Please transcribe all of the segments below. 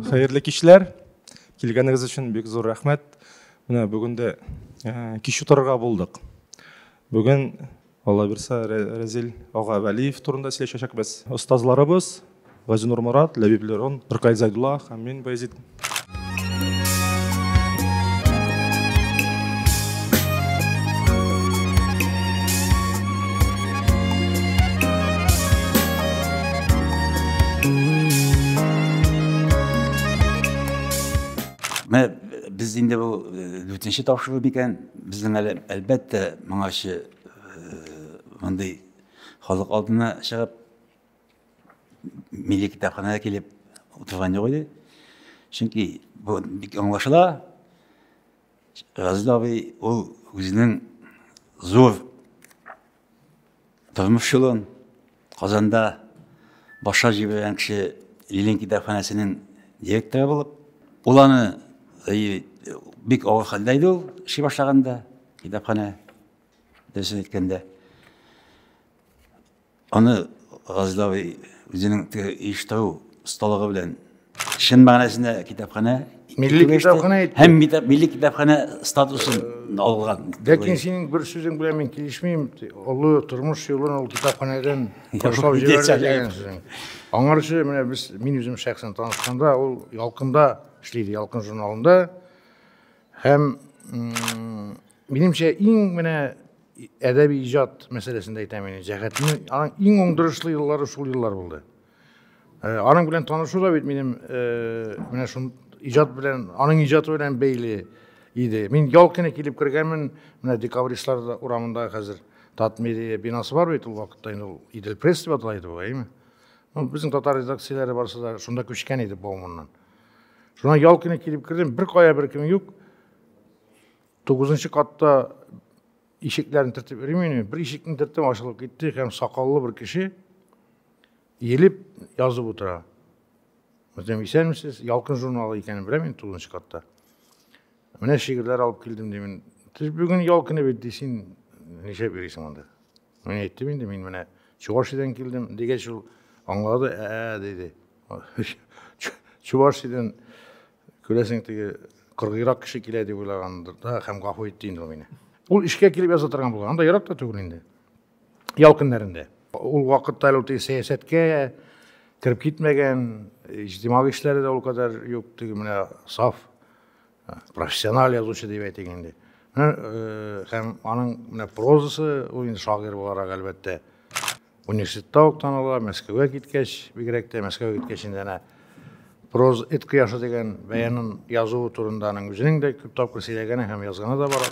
Хәерле кичләр. Килгәнегез өчен бик зур рәхмәт. Менә бүген дә э, кич утырырга булдык. Бүген Алла бирса Рәзил ага Вәлиев турында сөйләшәчәкбез. Остазларыбыз Газинур Морат, Ләбиб Лерон, Ркай Зайдулла һәм мин Баязит. Менә без инде бу дүртенче тапшыру микән? Безнең әле әлбәттә моңарчы мондый халык алдына чыгып милли китапханәгә килеп утырган юк иде. Чөнки бу бик аңлашыла. Газиз абый ул үзенең зур тормыш юлын Казанда башлап җибәргән кеше Ленин китапханәсенең директоры булып, ул аны бик авыр хәлдә иде ул эшли башлаганда китапханә дөресен әйткәндә Аны Газдави үзенең теге иштау осталыгы белән чын мәгънәсендә китапханә Милли китапханә итте. Һәм милли китапханә статусын алган. Ләкин синең бер сүзең белән мин килешмим. Олы тормыш юлын ул китапханәдән ташлап җибәрде дигән сүзең. Аңарчы менә без мин үзем шәхсән танышканда ул Ялкында эшлиде, Ялкын журналында. Һәм минемчә иң менә Әдәби иҗат мәсьәләсендә әйтәм инде, җәһәтне, аның иң уңдырышлы еллары шул еллар булды. Э, аның белән танышу да бит минем э, менә шул иҗат белән, аның иҗаты белән бәйле иде. Мин ял көне килеп кергәнмен, менә декабристлар урамында хәзер Татмедиа бинасы бар бит ул вакытта инде ул Идел пресс дип атала иде әйме? Ну, безнең татар редакцияләре барысы да шунда күчкән иде Бауманнан. Шуннан ял көне килеп кердем, бер кая бер кем юк. Тугызынчы катта ишекләрен төртеп йөрмим, бер ишекне төрттем, ачылып китте һәм сакаллы бер кеше елеп язып утыра. Үзем исәнмесез, Ялкын журналы икәнен беләм мин тугызынчы катта. Менә шигырьләр алып килдем димен. Сез бүген ял көне бит ди, син нишләп йөрисең монда? Мин әйттем инде, мин менә Чувашиядән килдем дигәч ул аңлады, ә, ә, диде. Чувашиядән Күрәсең, теге кыргыйрак кеше килә дип уйлагандыр да һәм гафу итте инде ул мине. Ул эшкә килеп яза торган булган, анда ерак та түгел инде. Ял көннәрендә. Ул вакытта әле теге сәясәткә кереп китмәгән, иҗтимагый эшләре дә ул кадәр юк, теге менә саф профессиональ язучы дип әйтик инде. Менә һәм аның менә прозасы, ул инде шагыйрь буларак әлбәттә. Университетта ук таныла, Мәскәүгә киткәч, бигрәк тә Мәскәүгә киткәч инде әнә проз эт кояшы дигән бәянын язуы турында аның үзенең дә күп тапкыр сөйләгәне һәм язганы да бар.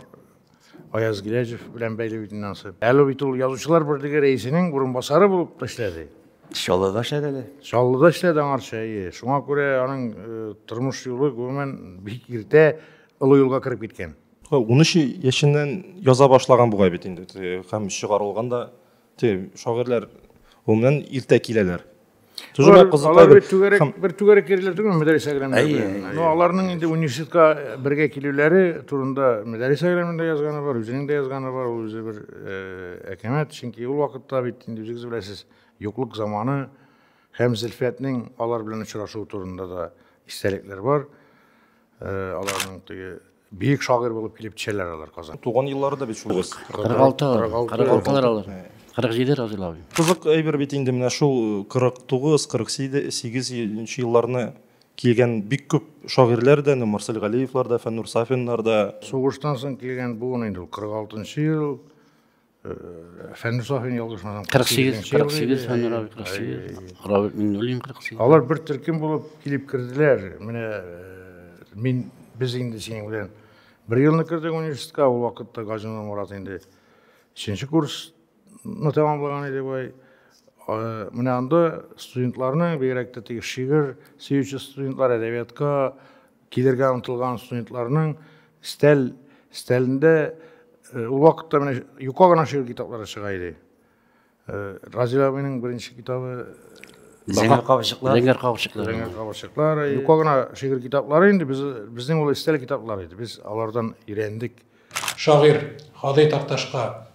Аяз Гиләҗев белән бәйле бит инде ансы. Әле бит ул язучылар берлеге рәисенең урынбасары булып эшләде. Чаллыда эшләде әле. Чаллыда эшләде аңарча, әйе. Шуңа күрә аның э, тормыш юлы гомумән бик иртә олы юлга кереп киткән. Унөч яшеннән яза башлаган бугай бит инде һәм чыгарылган да Те, шагыйрьләр гомумән иртә киләләр. Алар, алар бер түгәрәк, һәм... бер түгәрәк йөриләр түгел мәдәрәсә граммында. Но аларның инде университетка бергә килүләре турында мәдәрәсә граммында язганы бар, үзенең дә язганы бар, ул үзе бер э, әкәмәт, чөнки ул вакытта бит инде үзегез беләсез, юклык заманы һәм Зөлфәтнең алар белән очрашуы турында да истәлекләр бар. Э, аларның теге Бөек шагыйрь булып килеп төшәләр алар Казан. Туган еллары да бит шул. 46 46 алар. 47 Разил абый. Кызык әйбер бит инде менә шул 49, 48 елларны килгән бик күп шагыйрьләр дә, Марсель Галиевлар да, Фәннур Сафиннар да. Сугыштан соң килгән буын инде ул 46 ел. Фәнис Ахин ялгышмасам 48 48 Фәнис Равил 48 Равил Миннуллин 48 Алар бер төркем булып килеп керделәр. Менә мин без инде синең белән бер елны кердек университетка, ул вакытта Газина Мурат инде 3 курсны тәмамлаган иде бай. Менә анда студентларның бигрәк тә теге шигырь сөюче студентлар әдәбиятка Килергә омтылган студентларның стәл стәлендә э, ул вакытта менә юка гына шигырь китаплары чыга иде. Э, Разил абыйның беренче китабы Зәңгәр кабырчыклар. Зәңгәр кабырчыклар. Зәңгәр кабырчыклар. Юка гына шигырь китаплары инде без безнең ул стәл китаплары иде. Без алардан өйрәндек. Шагыйрь Хадый Такташка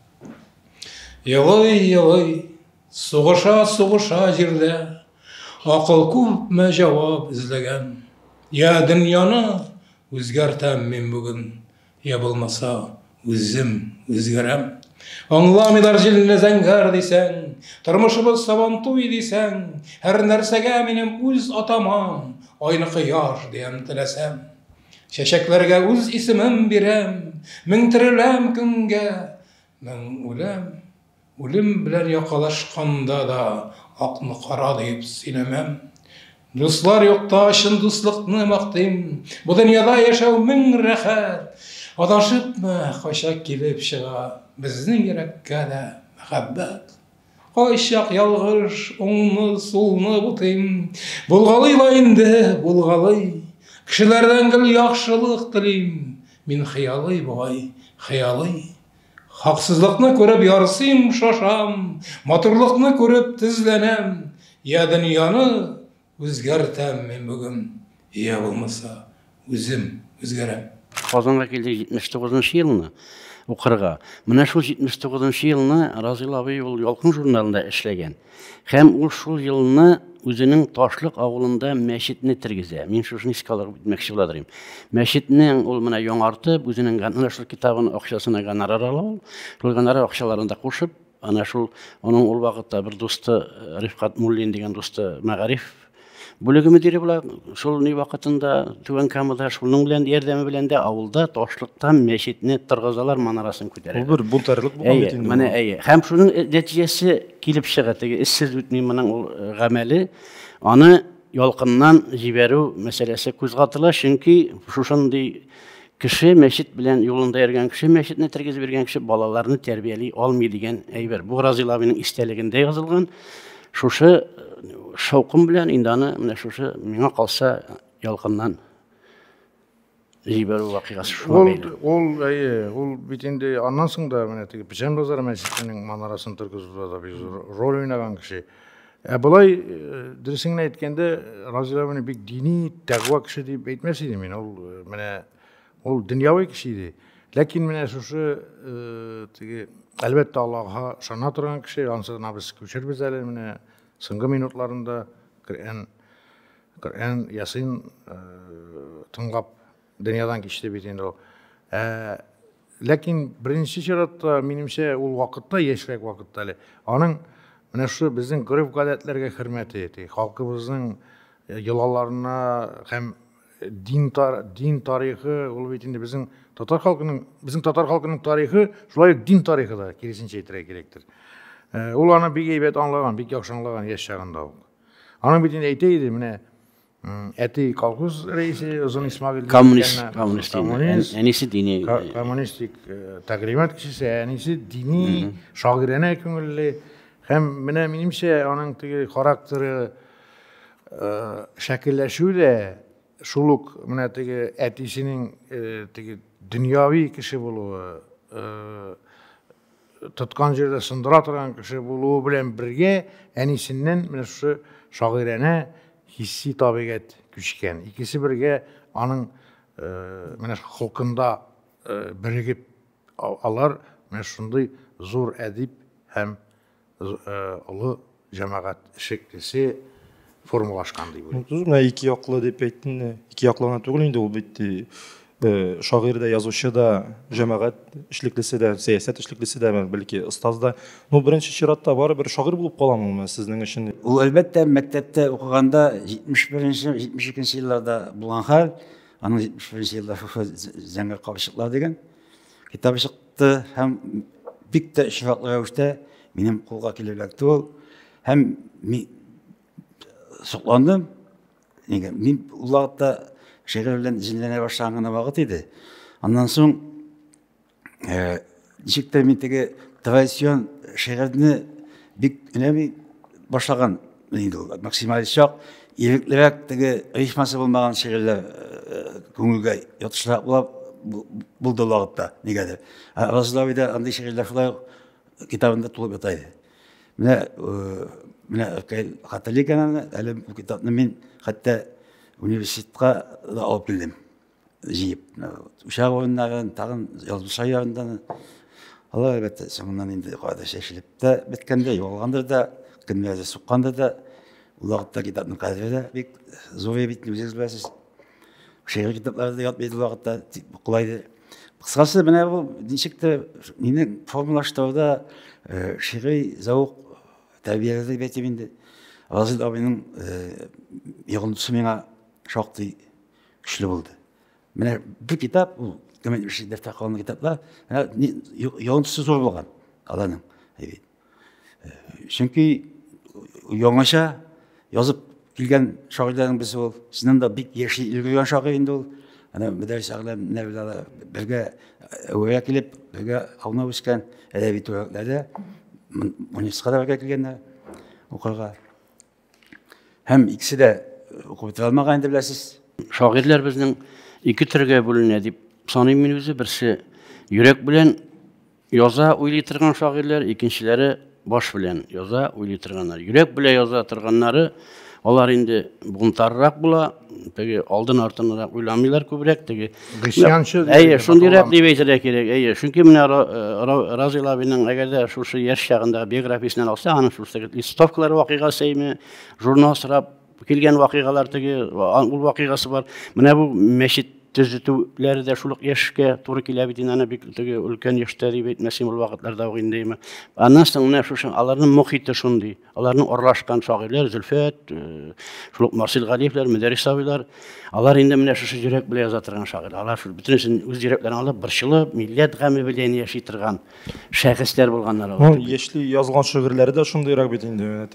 Елый-елый Сугыша, сугыша җирдә. Акыл күпме җавап эзләгән. Я дөньяны үзгәртәм мин бүген, Я булмаса, үзем үзгәрәм. Аңламыйлар җилне зәңгәр дисәң, Тормышыбыз сабантуй дисәң, Һәр нәрсәгә минем үз атамам, Айлы кояш диям теләсәм. Чәчәкләргә үз исемем бирәм, Мең тереләм көнгә, мең үләм. Үлем белән якалашканда да акны кара диеп сөйләмәм. Дуслар юкта чын дуслыкны мактыйм. Бу дөньяда яшәү мең рәхәт. Адашыпмы, кайчак килеп чыга безнең йөрәккә дә мәхәббәт. Кайчак ялгыш, уңны, сулны бутыйм. Булгалый ла инде, булгалый. Кешеләрдән гел яхшылык телим. Мин хыялый бугай, хыялый. Хаксызлыкны күреп ярсыйм, шашам, Матурлыкны күреп тезләнәм, Я дөньяны үзгәртәм мин бүген, Я булмаса үзем үзгәрәм. Казанга килдек 79 нчы елны укырга. Менә шул 79 нчы елны Разил абый ул Ялкын журналында эшләгән. Һәм ул шул елны үзенең Ташлык авылында мәчетне тергезә. Мин шушыны искә алып үтмәкче була дирим. Мәчетнең ул менә яңартып, үзенең ана шул китабын акчасына гонорар ала ул. Шул гонорар акчаларын да кушып, ана шул аның ул вакытта бер дусты Рифкат Муллин дигән дусты Мәгариф Бүлеге мөдире була, шул ни вакытында Түбән Камада шуның белән ярдәме белән дә авылда ташлыктан мәчетне торгызалар, манарасын күтәрә. Бу бер бунтарлык булган бит инде. Менә әйе. Һәм шуның э, нәтиҗәсе килеп чыга, теге эзсез үтми моның ул э, гамәле. Аны ялкыннан җибәрү мәсьәләсе күзгатыла, чөнки шушындый Кеше мәчет белән юлында йөргән кеше, мәчетне тергезеп йөргән кеше балаларны тәрбияли алмый дигән әйбер. Бу Разил абыйның истәлегендә язылган. Шушы э, шаукым белән инде аны менә шушы миңа калса ялкыннан җибәрү вакыйгасы шуңа бәйле. Ул, ул, әйе, ул бит инде аннан соң да менә теге Печән базары мәчетенең манарасының торгызуда да бик зур роль уйнаган кеше. Ә болай, э, дөресен әйткәндә, Разил абыны бик дини, тәкъва кеше дип әйтмәс идем мин. Ул э, менә ул дөньяви кеше иде. Ләкин менә шушы э, теге әлбәттә Аллаһка ышана торган кеше, ансы гына без күчербез әле менә соңгы минутларында Коръән Коръән Ясин тыңлап дөньядан кичте бит инде ул. Ә Ләкин беренче чиратта, минемчә, ул вакытта, яшьрәк вакытта әле, аның менә шушы безнең гореф-гадәтләргә хөрмәте итә, халкыбызның э, йолаларына һәм дин, тар, дин тарихы, ул бит инде безнең татар халкының, безнең татар халкының тарихы, шулай ук дин тарихы да, киресенчә әйтергә кирәктер. Э, ул аны бик әйбәт аңлаган, бик яхшы аңлаган яшь чагында ук. Аның бит инде әйтә иде, менә Әти колхоз рәисе Озын Исмагыйль. Коммунист, коммунист. Коммунист. Әнисе дини. Коммунистик тәгълимат кешесе, әнисе дини, шагыйрәнә күңелле. Һәм менә минемчә аның теге характеры шәкелләшү дә шул ук менә теге әтисенең теге дөньяви кеше булуы, тоткан җирдә сындыра торган кеше булуы белән бергә әнисеннән менә шушы шагыйрәнә хисси табигать күчкән. Икесе бергә аның э, менә холкында э, бирегеп алар менә шундый зур әдип һәм олы җәмәгать шеклесе формалашкан дип уйлыйм. Түз менә ике яклы дип әйттең. Ике яклы гына түгел инде ул бит э, шагыйрь дә, язучы да, җәмәгать эшлеклесе дә, сәясәт эшлеклесе дә, бәлки остаз да. Ну, беренче чиратта барыбер шагыйрь булып каламы ул сезнең өчен? Ул әлбәттә мәктәптә укыганда 71-нче, 72-нче елларда булган хәл, аның 71-нче елда зәңгәр кабырчыклар дигән китабы чыкты. чыкты һәм бик тә очраклы рәвештә минем кулга килеп эләкте ул һәм мин сокландым нигә мин ул вакытта шигырь белән җенләнә башлаган гына вакыт иде аннан соң э, ничек тә мин теге традицион шигырьне бик өнәми башлаган инде ул максималист чак иреклерәк теге рифмасы булмаган шигырьләр э, күңелгә ятышрак була булды ул вакытта нигәдер разлавида андый шигырьләр шулай ук китабында тулып ята иде менә э, менә хәтерли икән әле бу китапны мин хәтта университетка да алып килдем җыеп учак урыннарын тагын язмыша ярыннан алар әлбәттә соңыннан инде кайда чәчелеп тә беткәндер югалгандыр да кемнәрдер суккандыр да ул вакытта китапның кадере дә бик зур бит үзегез беләсез шигырь китаплары да ятмый ул вакытта кулайды кыскасы менә бу ничектер мине формалаштыруда шигъри зәвык тәрбияләде дип әйтим инде разил абыйның йогынтысы миңа шактый Көчле булды. Менә бу китап, ул кемнең эше дәфтә калган китаплар, ялынтысы зур булган аларның. Чөнки яңача язып килгән шагыйрьләрнең берсе ул. Чыннан да бик яши өлгергән шагыйрь инде ул. Ана Мөдәрис Әгъләм менә бергә бергә әүгә килеп, бергә аунап үскән әдәби төбәкләрдә муниципаль бергә килгәннәр укырга. Һәм икесе дә укып бетерә алмаган инде беләсез. Шагыйрьләр безнең ике төргә бүленә дип саныйм мин үзе. Берсе йөрәк белән яза, уйлый торган шагыйрьләр, икенчеләре баш белән яза, уйлый торганнар. Йөрәк белән яза торганнары алар инде бунтарырак була, теге алдын-артынрак уйламыйлар күбрәк, теге Гысянчы. Әйе, шундый рәп дип әйтергә кирәк. Әйе, чөнки менә Разил абиның әгәр дә шушы яшь чагында биографиясен алса, аның шушы листовкалар вакыйгасыймы, журнал сорап килгән вакыйгалар теге, ул вакыйгасы бар. Менә бу мәчет төзетүләре дә шул ук яшькә туры килә бит инде аны бик теге өлкән яшьтә дип әйтмәсем ул вакытларда ук инде. Аннан соң менә шушы аларның мохите шундый. Аларның аралашкан шагыйрьләр Зөлфәт, шул ук Марсил Галиевләр, Мөдәррис абыйлар, алар инде менә шушы йөрәк белән яза торган шагыйрь. Алар шул бөтенесен үз йөрәкләрен алып, борчылып, милләт гаме белән яши торган шәхесләр булганнар алар. Ну, яшьли язган шигырьләре дә шундыйрак бит инде.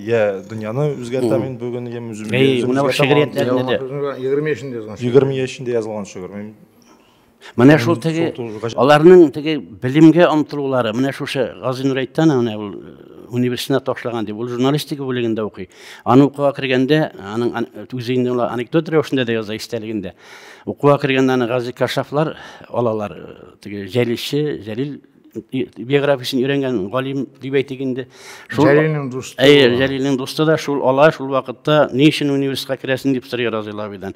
Я дөньяны үзгәртәм мин бүген, я үземне. Әй, менә шигырьләрдә. 20 яшендә язган. 20 яшендә язган шигырь. Менә шул теге аларның теге белемгә омтылулары, менә шушы Гази Нурәйтән менә ул э, университетына ташлаган дип, ул журналистика бүлегендә укый. Аны укуга кергәндә, аның үзе инде ул анекдот рәвешендә дә яза истәлегендә. Укуга кергәндә аны Гази Кашафлар алалар, э, теге Җәлилче, Җәлил биографиясен өйрәнгән галим дип әйтик инде җәлилнең дусты әйе җәлилнең дусты да шул алай шул вакытта ни өчен университетка керәсең дип сорый разил абыйдан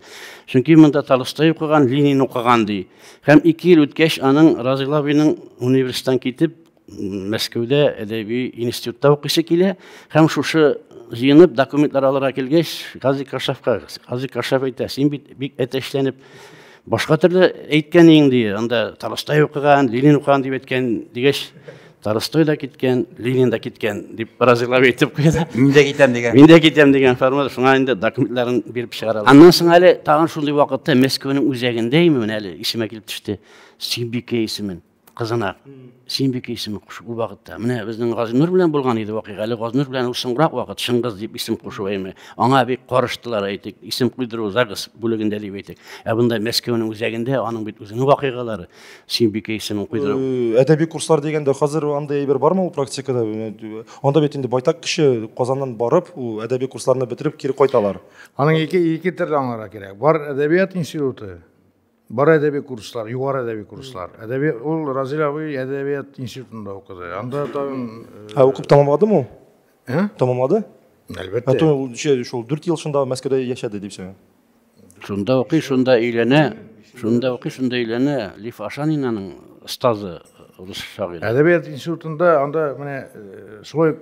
чөнки монда толстой укыган ленин укыган ди һәм ике ел үткәч аның разил абыйның университеттан китеп мәскәүдә әдәби институтта укыйсы килә һәм шушы җыенып документлар алырга килгәч казик кашафка казик кашаф әйтә син бит бик әтәчләнеп Башка төрле әйткән иң ди, анда Тарастай укыган, Ленин укыган дип әйткән дигәч, Тарастай да киткән, Ленин да киткән дип разыйлап әйтеп куйды. Мин дә китәм дигән. Мин дә китәм дигән формада шуңа инде документларын биреп чыгаралар. Аннан соң әле тагын шундый вакытта Мәскәүнең үзәгендә име менә әле исемә килеп төште. Сибике исемен. кызына Синбикә исеме кушу ул вакытта. Менә безнең Газинур белән булган иде вакыйга. Әле Газинур белән ул соңрак вакыт Шыңгыз дип исем кушу әйме. Аңа бик карыштылар әйтик, исем куйдыру загс бүлегендә дип әйтик. Ә бында Мәскәүнең үзәгендә аның бит үзенең вакыйгалары Синбикә исемен куйдыру. Э, әдәби курслар дигәндә хәзер андый әйбер бармы ул практикада? Анда бит инде байтак кеше Казаннан барып, ул әдәби курсларны бетереп кире кайталар. Аның ике ике төрле аңларга кирәк. Бар әдәбият институты Бар әдәби курслар, югары әдәби курслар. Әдәби ул Разил абый әдәбият институтында укыды. Анда тагын Ә укып тәмамладымы ул? Ә? Тәмамлады? Әлбәттә. Ә то ул шул 4 ел шунда Мәскәүдә яшәде дип сөйләгән. Шунда укый, шунда өйләнә. Шунда укый, шунда өйләнә. Лиф Ашанинаның остазы рус шагыйре. Әдәбият институтында анда менә шулай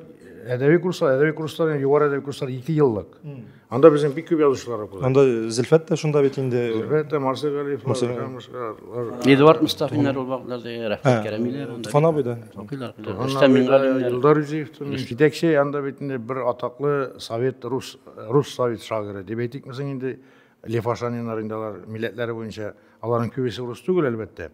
әдәби курслар, әдәби курслар, югары әдәби курслар 2 еллык. Анда безнең бик күп язучылар укыды. Анда Зөлфәт тә шунда бит инде. Зөлфәт тә, Марсель Галиев, Эдуард Мустафиннар ул вакытларда Рәфкать Кәримиләр. Туфан абый да. Укыйлар. Рөстәм Мингалимнәр. Илдар Үзиевтан. Җитәкче анда бит инде бер атаклы совет рус рус совет шагыйре дип әйтикме соң инде Лев Ашаниннар инде алар милләтләре буенча аларның күбесе рус түгел әлбәттә.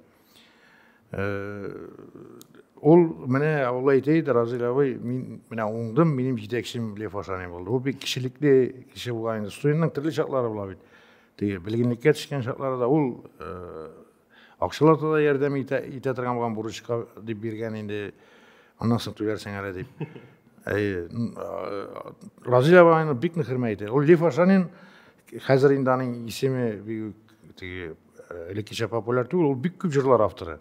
Ул менә Алла әйтәйд, Разил абый, мин менә уңдым, минем җитәкчем Лев Ашани булды. Ул бик кешелекле кеше булган инде. Студентның төрле чаклары була бит. Теге белгенлеккә төшкән чаклары да ул акчалата да ярдәм итә, итә торган булган бурычка дип биргән инде. Аннан соң түләрсең әле дип. Әй, Разил абыйны бик нык хөрмәт итә. Ул Лев Ашанин хәзер инде аның исеме бик теге э, элеккечә популяр түгел, ул бик күп җырлар авторы.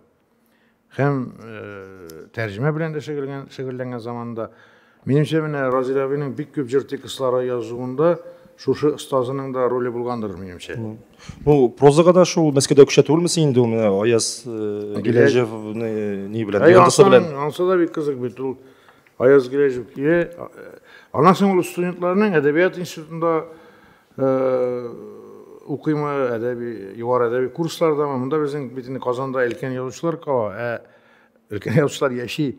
Һәм э, тәрҗемә белән дә шөгыльләнгән, шөгыльләнгән заманда. Минемчә, менә Разил абыйның бик күп җыр текстлары язуында шушы остазының да роле булгандыр, минемчә. Ну, прозага да шул Мәскәүдә күчә түгелме син инде ул менә Аяз э, Гиләҗевны ни белән? Ә, Йолдызы белән. Ансы да бик кызык бит ул. Аяз Гиләҗев килә. Аннан соң ул студентларның әдәбият институтында укыймы, әдәби, югары әдәби курслардамы, монда безнең бит инде Казанда өлкән язучылар кала, ә өлкән язучылар яши.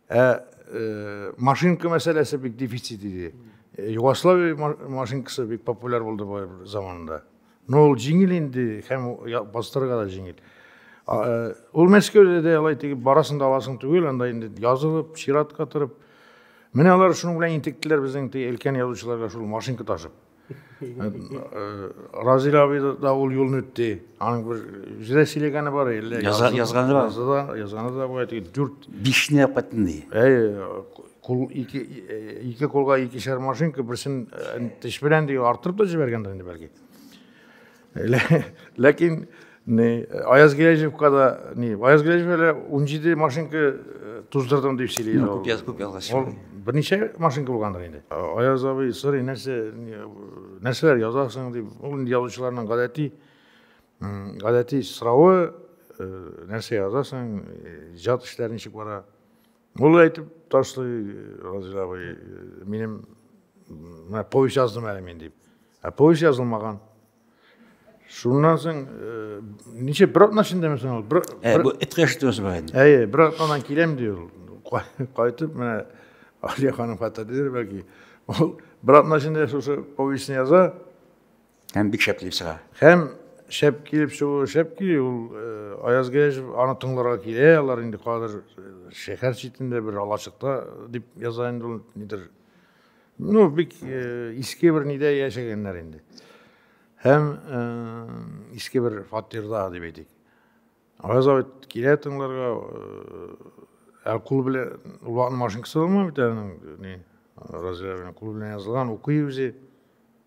Ә э, машинка мәсьәләсе бик дефицит иде. Э, Югославия машинкасы бик популяр булды бу заманында. Но ул җиңел инде һәм бастырырга да җиңел. Э, ул Мәскәүдә дә алай тигеп барасын да аласын түгел, анда инде язылып, чиратка торып, Менә алар шуның белән интектеләр безнең ти өлкән язучыларга шул машинка ташып. Э, э, Разил абый да ул юлны үтте. Аның бер үзенә сөйләгәне бар әллә язганы бар. Язды да, язганы да була дип дүрт бишне катын ди. Әй, кул ике э, ике кулга икешәр машинка берсен теш белән ди артырып та җибәргәндер инде бәлки. Ләкин не Аяз Гиләҗевка да не Аяз Гиләҗев әле 17 машинка э, туздырдым дип сөйли. Ну, күп яз күп ялга Ул берничә машинка булгандыр инде. Аяз абый сорый, нәрсә нәрсәләр язасың дип. Ул инде язучыларның гадәти гадәти соравы э, нәрсә язасың, э, иҗат эшләре ничек бара. Ул әйтеп ташлый, Разил абый, минем менә повесть яздым әле мин дип. Ә повесть язылмаган. Шуннан соң э, ничә бер атна эчендәме соң ул? Бер э, бу эткә шитмәс бәгән. Әйе, бер атнадан киләм ди ул. Кайтып менә Алия ханым хәтерләр бәлки. Ул бер атна эчендә шушы повестьны яза. Һәм бик шәп килеп чыга. Һәм шәп килеп чыгу, шәп килү ул э, Аяз Гәҗев аны тыңларга килә, алар инде кадер э, шәһәр читендә бер алачыкта э, дип яза инде ул нидер. Ну, бик иске бер нидә яшәгәннәр инде. Һәм иске бер фатирда дип әйтик. Аяз абый килә тыңларга, ә кул белән ул вакытның машинкасы булмый бит әле, ни, разве кул белән язылган, укый үзе.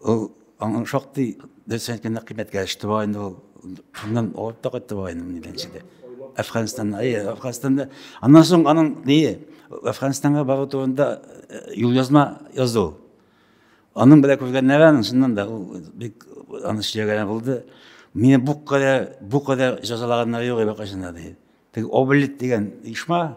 Ул аңа шактый дөрес әйткәндә кыйммәткә төште бугай инде ул. Шуннан авырып та кайтты бугай инде минем дә. Әфганстанда, әйе, Әфганстанда. Аннан соң аның ни Әфганстанга бару турында э, юлъязма язды ул. Аның белән күргәннәре аның шуннан да ул бик аны сөйләгәне булды. Мине бу кадәр бу кадәр җәзалаганнары юк әле кайчан да ди. Теге Облит дигән оешма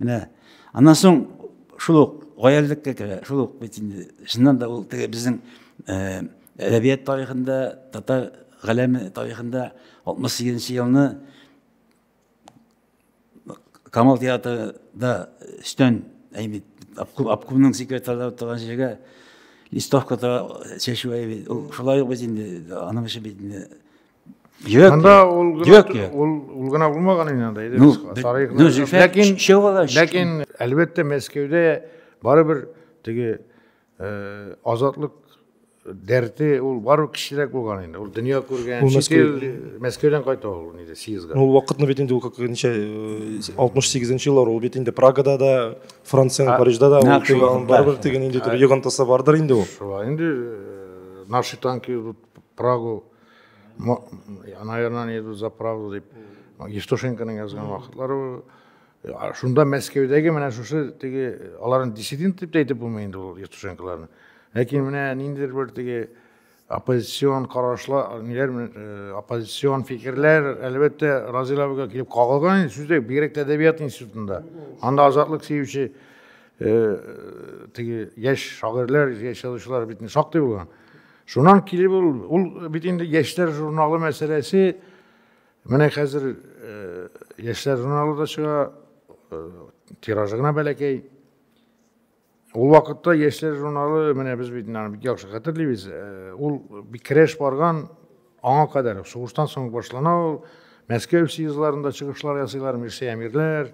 Менә аннан соң шул ук гаяллеккә керә. Шул ук бит инде чыннан да ул теге безнең э, әдәбият тарихында, татар галәме тарихында 68 нче елны Камал театрында өстән әйбит обкомның секретарьлары торган җиргә листовка чәчү әйбит. Шулай ук бит инде аның эше бит инде Юк. Анда ул гына ул ул гына булмаган инде анда иде. Ну, ләкин ләкин әлбәттә Мәскәүдә барыбер теге э, азатлык дәрте ул бару кечерәк булган инде ул дөнья күргән чит ил мәскәүдән кайта ул инде съездга ну вакытны бит инде ул как ничә э, алтмыш сигезенче еллар ул бит инде прагада да франциянең парижда да ул барыбер теге ниндидер йогынтысы бардыр инде ул шулай инде э, наши танки прагу наверное не идут за правду дип евтушенконың язган вакытлары шунда мәскәүдәге менә шушы теге аларны диссидент дип тә әйтеп булмый инде ул евтушенколарны ләкин менә ниндидер бер теге оппозицион карашлар ниләр э, оппозицион фикерләр әлбәттә разил абыйга килеп кагылган инде сүздә бигрәк тә әдәбият институтында анда азатлык сөюче э, теге яшь шагыйрьләр яшь язучылар бит шактый булган Шуннан килеп ул, ул бит инде яшьләр журналы мәсьәләсе, менә хәзер э, яшьләр журналы да чыга, э, тиражы гына бәләкәй. Ул вакытта яшьләр журналы, менә без бит аны бик яхшы хәтерлибез, э, ул бик керәш барган аңа кадәр, сугыштан соң башлана ул, Мәскәү съездларында чыгышлар ясыйлар, Мирсәя Мирләр,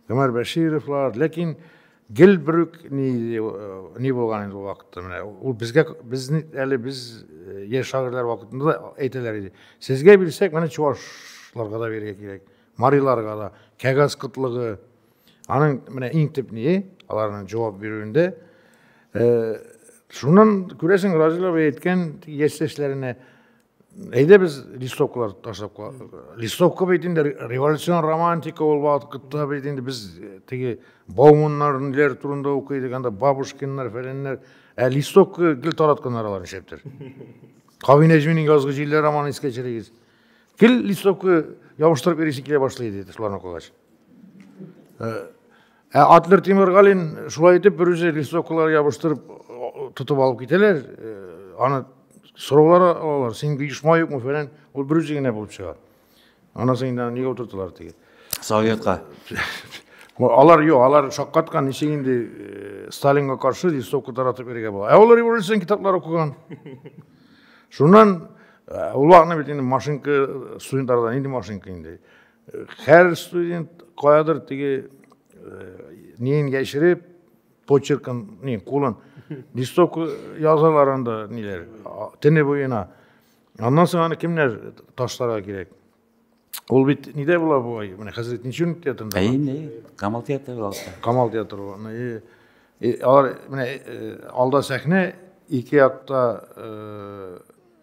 Гомәр Бәшировлар, ләкин Гел брюк ни ни булган инде ул вакытта менә ул безгә без әле без э, яшь шагыйрьләр вакытында да әйтәләр иде. Сезгә бирсәк, менә чувашларга да бирергә кирәк, мариларга да, кәгазь кытлыгы. Аның менә иң төп ние, аларның җавап бирүендә э, шуннан күрәсең Разилова әйткән яшьтәшләренә әйдә без листовкалар ташлап листовка бит инде революцион романтика ул вакытта бит инде без э, теге бауманнар ниләр турында укый идек анда бабушкиннар фәләннәр ә листовка гел таратканнар алар нишләптер кави нәҗминең язгы җилләр романын искә төшерегез гел листовка ябыштырып йөрисең килә башлый иде шуларны укыгач э, Ә Атлер Тимергалин шулай итеп берүзе листовкалар ябыштырып тотып алып китәләр. Э, аны сораулар алалар, син оешма юкмы фәлән. Ул берүзе генә булып чыга. Анасын инде нигә утырталар теге. Советка. Алар юк, алар шаккаткан, ничек инде э, Сталинга каршы листовка таратып йөрергә була. Ә ул революцион китаплар укыган. Шуннан э, ул вакытны бит инде машинка студентлардан инде машинка инде. Хәр студент каядыр теге неен яшереп, почеркын, не, кулын, листовка язалар анда, ниләр, тене буена. Аннан соң аны кемнәр ташларга кирәк? Ул бит нидә була бу ай? Менә хәзер Тинчун театрында. Әй, не, Камал театры алса. Камал театры була. И, и, алар, менә, алда сәхнә, ике якта, э,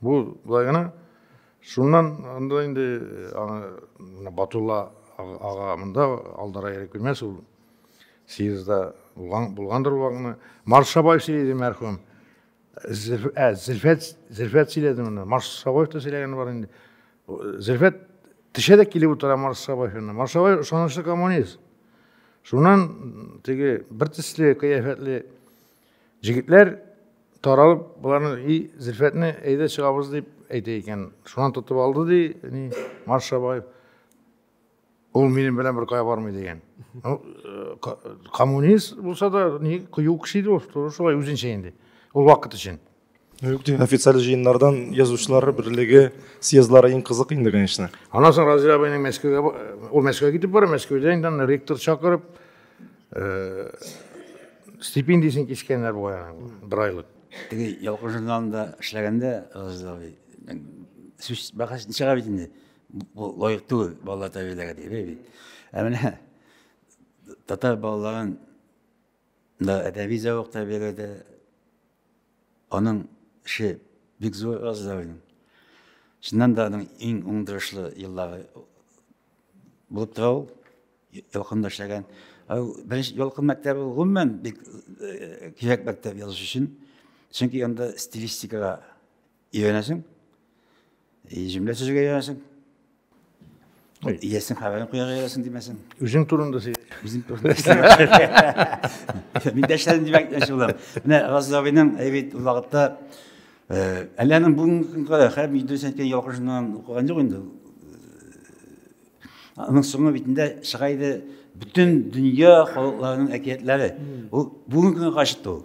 Бу да гына шуннан анда инде аны Батулла ага монда алдара йөреп килмәс ул съездда булган булгандыр вакытны. Маршабай сөйләде мәрхүм. Ә, Зөлфәт, Зөлфәт сөйләде моны. Маршабаев та сөйләгәне бар инде. Зөлфәт теше дә килеп утыра Маршабаев янына. Маршабаев ышанычлы коммунист. Шуннан теге бер төсле кыяфәтле Җегетләр таралып, боларны и Зөлфәтне әйдә чыгабыз дип әйтә икән. Шунан тотып алды ди, ни Марш Абаев. Ул минем белән бер кая бармый дигән. Ну, э, коммунист булса да, ни кыю кеше иде ул, шулай үзенчә инде. Ул вакыт өчен. официаль җыеннардан язучылар берлеге съездлары иң кызык инде конечно аннан соң разил абыйның мәскәүгә ул мәскәүгә китеп бара мәскәүдә инде аны ректор чакырып э, стипендиясен кискәннәр бугай аның бер айлык теге ялкын журналында эшләгәндә разил абый сүз бәхәс чыга бит инде бу лаек түгел балалар тәрбияләргә дип ә менә татар балаларын Да әдәби зәвык та бирелде. Аның эше бик зур Газдавин. Чыннан да аның иң уңдырышлы еллары булып тора ул. Ялкында эшләгән. Беренче ялкын мәктәбе гомумән бик кирәк мәктәп язучы өчен. Чөнки анда стилистикага Өйрәнәсең. И җөмлә төзергә өйрәнәсең. Ой. Иясен хәбәрен куярга өйрәнәсең димәсен. Үзең турында сөй. Үзем турында. Мин дәшләрем димәк мәче булам. Менә Разил абыйның әйбит ул вакытта э, әллә аның бүгенге көнгә кадәр хәб Идрис әйткән ялгышыннан укыган юк инде. Аның соңгы битендә чыга иде бөтен дөнья халыкларының әкиятләре. Ул бүгенге көнгә кадәр чыкты ул.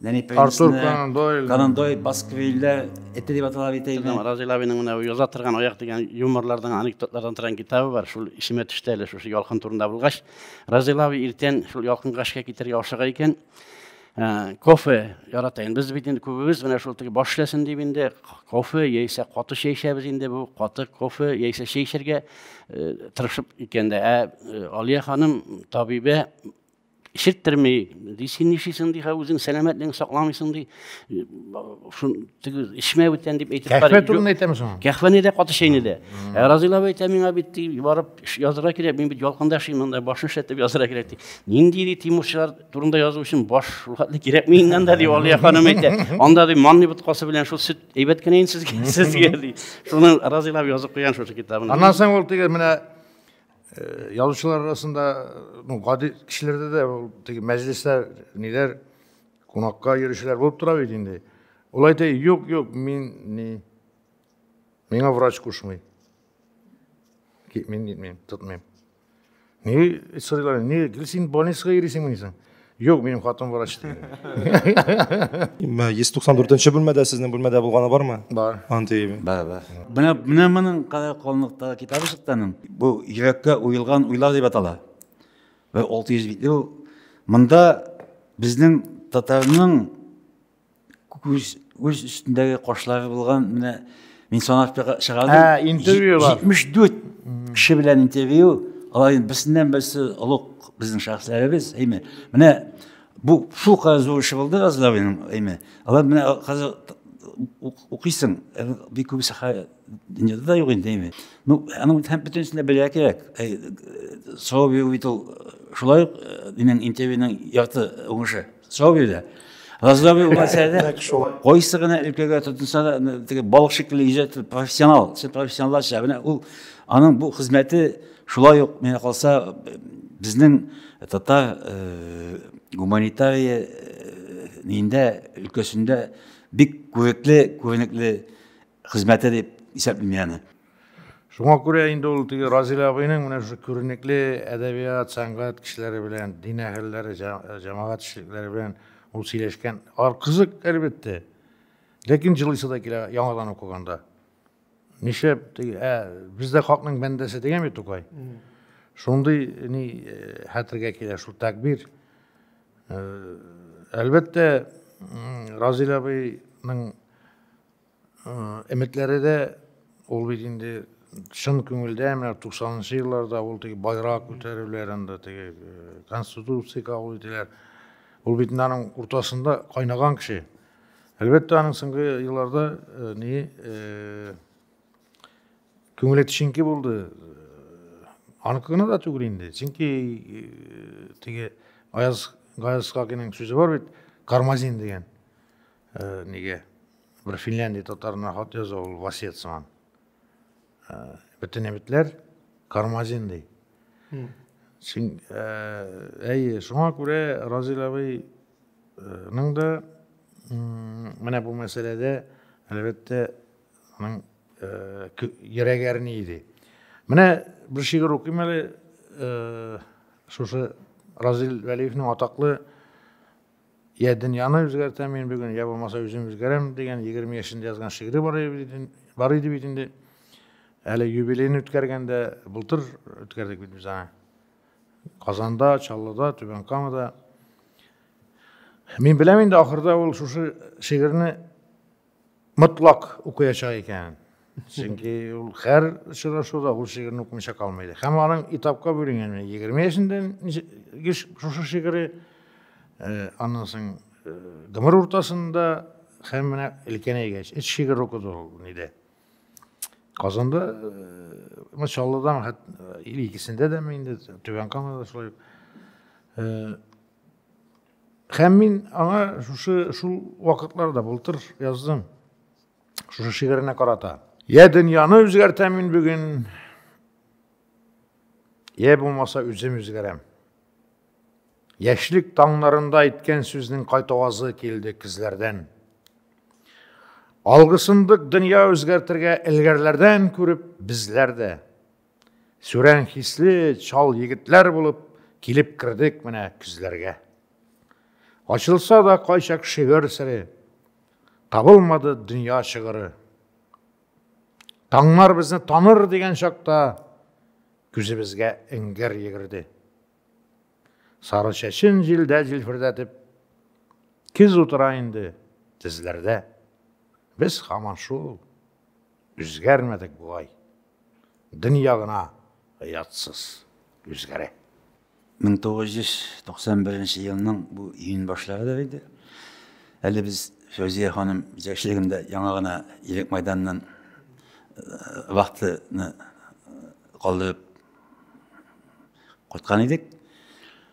Артур Конан Дойл. Конан Дойл, Басквилле, эте дип атала бит әйме. Разил абиның менә яза торган аяк дигән юморлардан, анекдотлардан торган китабы бар. Шул исемә төште әле шушы ялкын турында булгач. Разил аби иртән шул ялкынга эшкә китәргә ашыга икән. Ә, кофе ярата инде. Без бит инде күбебез менә шул теге баш эшләсен дип инде кофе яисә каты чәй эчәбез инде. Бу каты кофе яисә чәй эчәргә э, тырышып икән дә. Ә э, Алия ханым табибә ишеттерми ди син нишлисең ди үзең сәламәтлегеңне сакламыйсың ди шул теге эчмә бүтән дип әйтеп кәхвә турында әйтәме соң кәхвәне дә каты чәйне дә ә разыйлап әйтә миңа бит ди барып язырга кирәк мин бит ялкында яшим монда башны эшләтеп язырга кирәк ди нинди ди тимурчылар турында язу өчен баш рухатлы кирәкми инде анда ди алия ханым әйтә анда ди манный боткасы белән шул сөт әйбәт кенә инде сезгә сезгә ди шуны разыйлап язып куйган шушы китабын аннан соң ул теге менә Э, язучылар арасында ну гади кешеләрдә дә ул теге мәҗлесләр ниләр кунакка йөрүчеләр булып тора бит инде ул әйтә юк юк мин ни миңа врач кушмый мин нитмим тотмыйм ни сорыйлар ни гел син больницага йөрисеңмени соң Юк, минем хатын врач ди. 194-нче бүлмәдә сезнең бүлмәдә булганы бармы? Бар. Андый. Бар, бар. Менә менә моның кара калынлыктагы китабы чыкты аның. Бу йөрәккә уелган уйлар дип атала. Бер 600 битле ул. Монда безнең татарның күз үз өстендәге кашлары булган менә мин санап чыгардым интервью бар җитмеш дүрт кеше белән интервью алар енді берсеннән берсе олуг біздің шәхесләребез әйме міне бұл шул кадәр зур эше булды разлавиның әйме алар менә хәзер укыйсың бик күбесе дөньяда да юк инде әйме ну аның һәм бөтенесенә белә кирәк сорау бирү бит ул шулай ук минем интервьюның ярты уңышы Сау бирде. Разлабый булмаса да, кайсы гына өлкәгә тотынса да, теге балык шикелле иҗат профессионал, сез профессионалларча. Менә ул аның бу хезмәте шулай ук менә калса безнең татар э, гуманитария э, нинде өлкәсендә бик күрекле, күренекле хезмәте дип исәплим мин аны. Шуңа күрә инде ул теге Разил абыйның менә шушы күренекле әдәбият, сәнгать кешеләре белән, дин әһелләре, җәмәгать эшлекләре белән ул сөйләшкән. Ар кызык, әлбәттә. Ләкин җылысы да килә яңадан укыганда. Нишләп теге, ә без дә хакның бәндәсе дигән бит Тукай. Шундый ни э, хәтергә килә шул тәкбир. Э, әлбәттә, Разил абыйның Өметләре дә ул бит инде чын күңелдә менә туксанынчы елларда ул теге байрак күтәрүләр анда теге э, конституция кабул ителә ул бит аның уртасында кайнаган кеше әлбәттә аның соңгы елларда э, ни э, күңеле тишенке булды аныкы гына да түгел инде чөнки теге аяз гаязкакиның сүзе бар бит кармазин дигән Э, неге бир финляндия татарына хат яза ул васият сыман э, бүтүн эметлер кармазин дей син әй шуңа күрә разил абыйның да менә бу мәсьәләдә әлбәттә аның йөрәге әрни иде менә бер шигырь укыйм әле шушы разил вәлиевнең атаклы Йә дөньяны үзгәртәм мин бүген, йә булмаса үзем үзгәрәм, дигән егерме яшендә язган шигыре бар иде, бар иде бит инде. Әле юбилейны үткәргәндә, былтыр үткәрдек бит без аны. Казанда, Чаллыда, Түбән Камада. Мин беләм инде, ахырда ул шушы шигырьне Мотлак укыячак икән. Чөнки ул һәр очрашуда ул шигырьне укымыйча калмый иде. Һәм аның этапка бүленгән 20 яшендә шушы шигыре, э, аннан соң э, гомер уртасында һәм менә өлкән әйгәч, өч шигырь укыды ул нидә. Казанда, э, Мачаллыдан икесендә дәме инде, Түбән Камада шулай. Һәм мин аңа шушы шул вакытларда былтыр яздым. Шушы шигыренә карата. Я дөньяны үзгәртәм мин бүген. Я булмаса үзем үзгәрәм. Яшьлек таңнарында әйткән сүзнең кайтавазы килде кизләрдән. Алгысындык дөнья үзгәртергә элгәрләрдән күреп безләр дә Сүрән хисле чал егетләр булып килеп кердек менә күзләргә. Ачылса да кайчак шигырь сире, табылмады дөнья шигыры. Таңнар безне таныр дигән чакта күзебезгә эңгер йөгерде. Сары чәчен җилдә җилфердәтеп, киз утыра инде тезләрдә. Без хаман шул Үзгәрмәдек болай. Дөнья гына оятсыз үзгәрә. 1991 елның бу июнь башларыдыр иде. Әле без Фәүзия ханым җитәкчелегендә яңа гына Илек мәйданыннан э, вахтаны э, калдырып кайткан идек.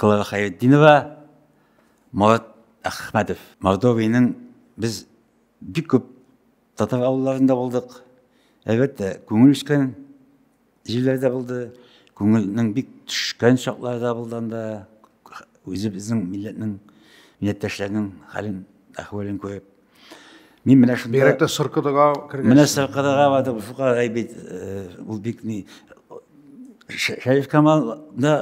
Клара Хәйретдинова, Марат Әхмәтов. Мордовиянең без бик күп татар авылларында булдык. Әлбәттә, күңел үскән җирләрдә булды. Күңелнең бик төшкән чаклары да булды анда. Үзебезнең милләтнең, милләттәшләрнең хәлен, әхвәлен күреп. Мин менә шунда... Бигрәк тә Сыркыдыга кергән. Менә Сыркыдыга бардым, шул кадәр әйбит, э, ул бик ни... Шәриф Камалда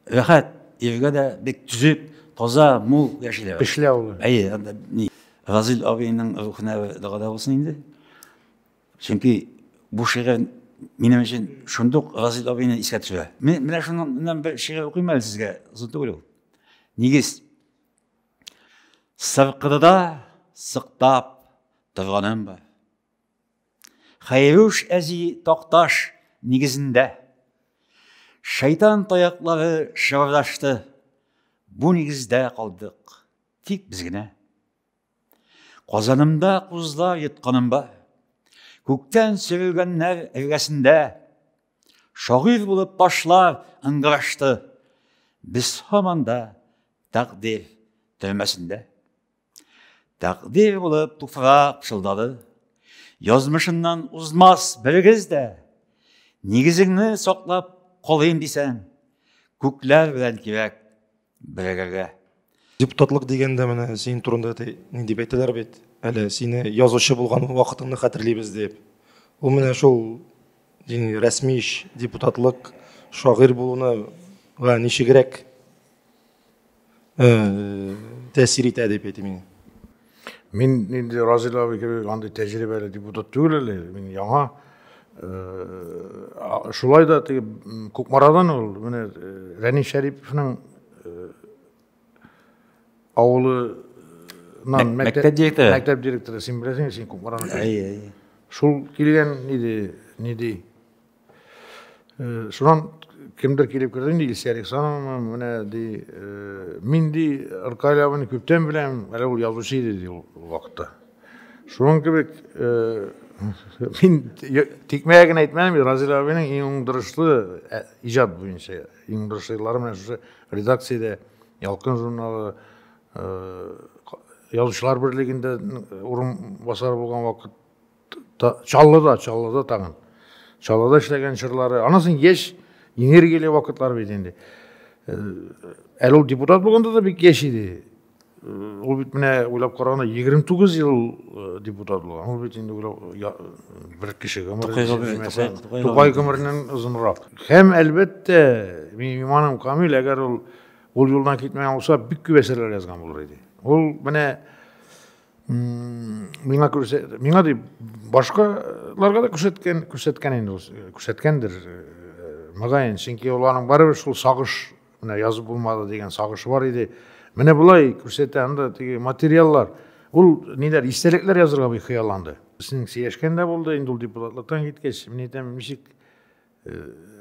рәхәт, иргә дә бик төзек, таза, мул яшиләр. Пешлә ул. Әйе, анда ни... Разил абыйның рухына дагада булсын инде. Чөнки бу шигырь минем өчен шундук Разил абыйны искә төшерә. Менә шуннан бер шигырь укыйм әле сезгә, озын түгел ул. Нигез. Сыркыдыда сыктап торганым бар. Хайруш әзи такташ нигезендә. Шайтан таяклары шырдашты. Бу нигездә калдык. Тик без генә. Казанымда кузлар йотканым бар. Күктән сөрелгәннәр эргәсендә. Шагыйрь булып башлар ыңгырашты. Без һаман да Тәкъдир төрмәсендә. Тәкъдир булып туфрак пышылдады. Язмышыннан узмас берегез дә. Нигезеңне саклап калыйм дисәң, күкләр белән кирәк берегергә. Депутатлык дигәндә менә син турында ни дип әйтәләр бит, әле сине язучы булган вакытыңны хәтерлибез дип. Ул менә шул рәсми эш, депутатлык, шагыйрь булуны ничегрәк э, тәэсир итә дип әйтим мин. Мин инде Разил абый кебек андый тәҗрибәле депутат түгел әле, мин яңа. Э, шулай да теге Кукмарадан ул менә э, Рәни Шәриповның э, авылы мәктәп директоры. Мәктәп директоры, син беләсең, син Кукмараны. Әйе, әйе. Шул килгән иде, ни ди? Э, шунан кемдер килеп керде инде илсия александровна менә ди э, мин ди ркаляваны күптән беләм әле ул язучы иде ди ул вакытта шуның кебек э, мин тикмәгә генә әйтмәдем разил абыйның иң уңдырышлы ә, иҗат буенча иң уңдырышлы еллары менә шушы редакциядә ялкын журналы язучылар берлегендә урынбасары булган вакыт Чаллыда, Чаллыда тагын. Чаллыда эшләгән чорлары. Анасын яшь энергияле вакытлар бит инде. Э, әле ул депутат булганда да бик яшь иде. Э, ул бит менә уйлап караганда 29 ел э, депутат булган. Ул бит инде бер кеше гомере. Тукай гомереннән озынрак. Һәм әлбәттә, минем иманым камил, әгәр ул ул юлдан китмәгән булса, бик күп әсәрләр язган булыр иде. Ул менә миңа күрсә, миңа дип башкаларга да күрсәткән күрсәткән инде ул күрсәткәндер мөгаен чөнки ул аның барыбер шул сагыш менә язып булмады дигән сагышы бар иде менә болай күрсәтә анда теге материаллар ул ниләр истәлекләр язырга бик хыялланды синең сөйләшкән дә булды инде ул депутатлыктан киткәч мин әйтәм ничек Э,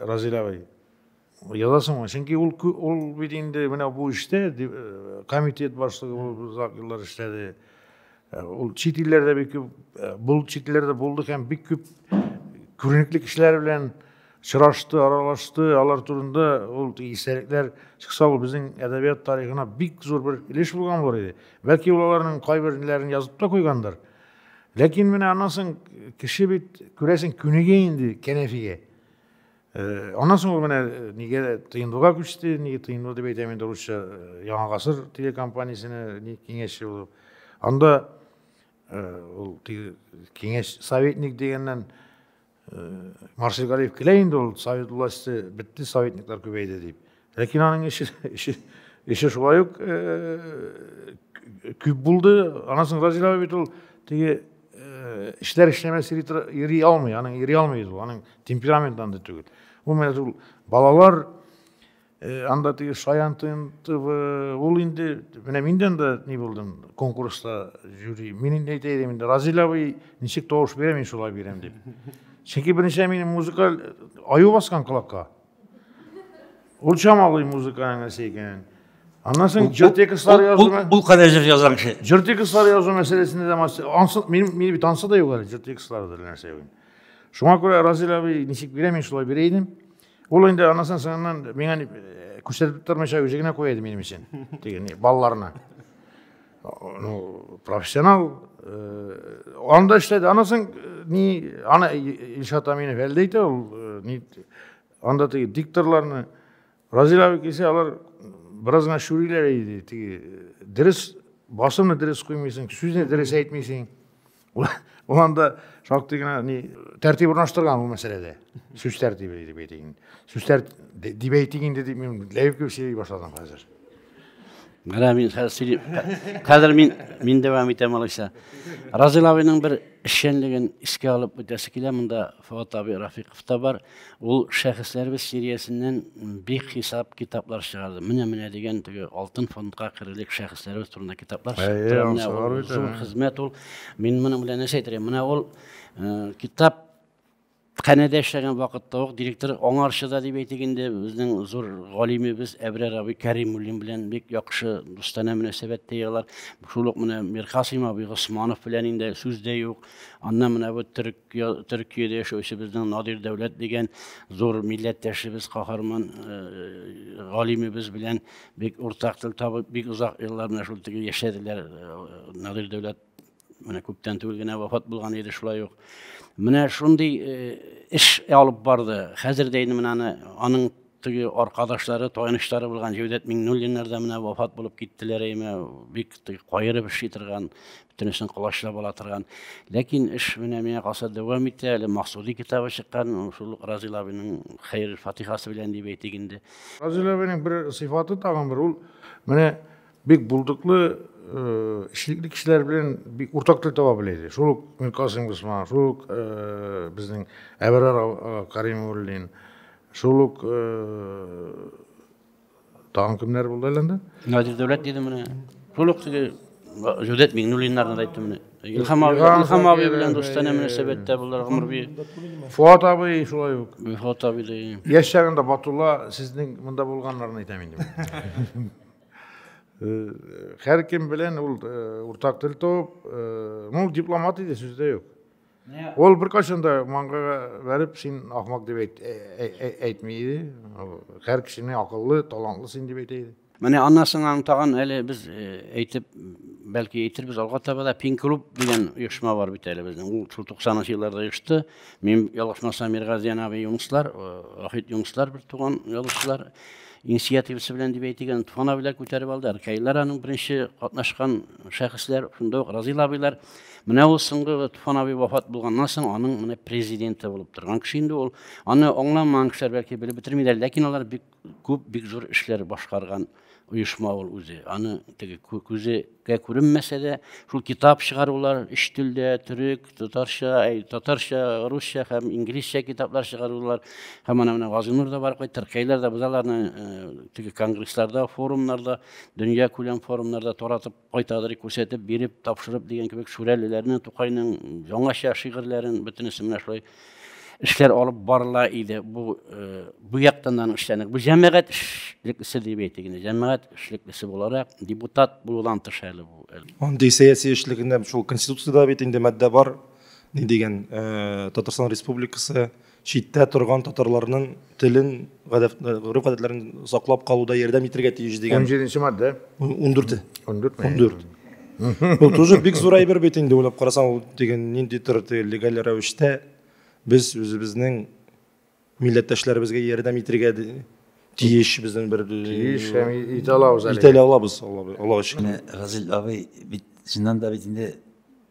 Разилә абый, язасыңмы? Чөнки ул ул бит инде менә бу эштә э, комитет башлыгы булып озак еллар эшләде. Э, ул чит илләрдә бик күп бул чит илләрдә булды һәм бик күп күренекле кешеләр белән очрашты, аралашты, алар турында ул истәлекләр чыкса, ул безнең әдәбият тарихына бик зур бер өлеш булган булыр иде. Бәлки ул аларның кайберләрен язып та куйгандыр. Ләкин менә аннан соң кеше бит, күрәсең, күнегә инде кәнәфигә. Э, аннан соң ул менә э, нигә тыйындуга күчте, нигә тыйынду дип әйтәм инде русча, э, Яңа гасыр телекомпаниясенә ни киңәшче булып. Анда ул киңәш советник дигәннән Марсель Галиев килә инде ул совет власте бетте, советниклар күбәйде дип. Ләкин аның эше эше эше шулай ук күп булды. Аннан соң Разилова бит ул теге эшләр эшләмәс йөри алмый, аның йөри алмый ул, аның темперамент анда түгел. Ул менә ул балалар Э, анда теге шаян тынтыбы ул инде менә мин дә анда ни булдым конкурста жюри мин инде әйтә идем инде разил абый ничек тавыш бирә мин шулай бирәм дип чөнки беренче минем музыкаль аю баскан колакка ул чамалый музыканың нәрсә икәнен аннан соң җыр текстлары язу ул кадәр җыр язган кеше җыр текстлары язу мәсьәләсендә дә ансыз мин мин бит ансы да юк әле җыр текстлары да нәрсә шуңа күрә разил абый ничек бирә мин шулай бирә идем Ул инде аннан соңыннан миңа э, күрсәтеп тормыйча үзе генә куя иде минем өчен. Диген, балаларына. Ну, профессионал э, анда эшләде. Аннан соң э, ни аны Илшат Аминов әлдә әйтә ул ни анда теге дикторларны Разил абый килсә, алар бераз гына шүриләр иде. Теге дөрес басымны дөрес куймыйсың, сүзне дөрес әйтмисең. ул анда шактый гына ни тәртип урнаштырган ул мәсьәләдә сүз тәртибе дип әйтик инде сүз тәрт дип әйтик инде дип мин ләеп кебек сөйли башладым хәзер менә мин хәзер сөйлим хәзер мин мин дәвам итәм алайса разил абыйның бер эшчәнлеген искә алып үтәсе килә монда Фотоби Рафиков та бар. Ул шәхесләребез сериясеннән бик хисап китаплар чыгарды. Менә-менә дигән теге алтын фондка керерлек шәхесләребез турында китаплар чыгарды. Зур хезмәт ул. Мин моның белән нәрсә әйтергә? Менә ул э, китап Хәнәдә эшләгән вакытта ук директор аңарчы да дип әйтик инде безнең зур галимебез Әбрәр абый Кәримуллин белән бик яхшы дустана мөнәсәбәттә егылар. Шул ук менә Мирхасим абый Госманов белән инде сүз дә юк. Аннан менә бу төрек Төркиядә яшәүче безнең Надир Дәүләт дигән зур милләттәшебез, каһарман э, галимебез белән бик уртак тел табып, бик озак еллар менә шул теге яшәделәр. Э, Надир Дәүләт менә күптән түгел генә вафат булган иде шулай ук. Менә шундый э, эш алып барды. Хәзер дә инде менә аның Теге аркадашлары, таянычлары булган Җәүдәт Миңнуллиннар да менә вафат булып киттеләр әйме. Бик теге каерып эшли торган, бөтенесен колачлап ала торган. Ләкин эш менә миңа калса дәвам итә. Әле Максуди китабы чыккан, шул Разил абыйның хәер фатихасы белән дип әйтик инде. Разил абыйның бер сыйфаты тагын бер ул менә бик булдыклы эшлекле кешеләр белән бик уртак тел таба белә иде. Шул ук Миркасым Госман, шул ук безнең Әбәрар Каримуллин, Шул ук тагын кемнәр булды әле анда? Надир Дәүләт диде менә. Шул ук теге Җүдәт Миңнуллиннарны да әйттем менә. Илһам абый, Илһам абый белән дустанә мөнәсәбәттә булдылар гомер буе. Фуат абый шулай ук. Фуат абый да. Яшь чагында Батулла сезнең монда булганнарны әйтәм инде. Һәр кем белән ул уртак тел табып, ну дипломат иде, сүз дә юк. Ул беркайчан да маңгайга бәреп, син ахмак дип әйт, әйтми иде. Һәр кешене акыллы, талантлы син дип әйтә иде. Менә аннан соң аны тагын әле без әйтеп, бәлки әйтербез алга таба да Пин клуб дигән оешма бар бит әле безнең. Ул шул 90 елларда оешты. Мин ялгышмасам Миргазиян абый Юнуслар, Ахит Юнуслар бер туган язучылар инициативасы белән дип әйтегән Туфан абыйлар күтәреп алды. Аркайлар аның беренче катнашкан шәхесләр, шунда ук Разил абыйлар Менә ул соңгы Туфан абый вафат булганнан соң аның менә президенты булып торган кеше инде ул. Аны аңламаган кешеләр бәлки белеп бетермиләр, ләкин алар бик күп, бик зур эшләр башкарган оешма ул үзе. Аны теге күзегә күренмәсә дә, шул китап чыгарулар өч телдә, төрек, татарча, әй, татарча, русча һәм инглизчә китаплар чыгарулар. Һәм ана менә Газинур да барып кайтты, Ркәйләр дә без аларны э, теге конгрессларда, форумнарда, дөнья күләм форумнарда таратып кайтадыр күрсәтеп биреп тапшырып дигән кебек шүрәлеләрнең тукайның яңача шигырьләрен бөтенесе менә шулай эшләр алып барыла иде бу э, бу яктан аның эшләнек бу җәмәгать эшлеклесе дип әйтик инде җәмәгать эшлеклесе буларак депутат булудан тыш әле бу андый сәяси эшлекне шул конституциядә бит инде маддә бар ни дигән э, татарстан республикасы читтә торган татарларның телен, гореф-гадәтләрен саклап калуда ярдәм итәргә тиеш дигән. 17 маддә. 14. 14. 14. Бу тоже бик зур әйбер бит инде, уйлап карасаң, ул дигән нинди төр легаль рәвештә без үзебезнең милләттәшләребезгә ярдәм итәргә тиеш безнең бер тиеш һәм итә алабыз әле. Итә алабыз, Аллага шөкер. Газил абый бит чыннан да бит инде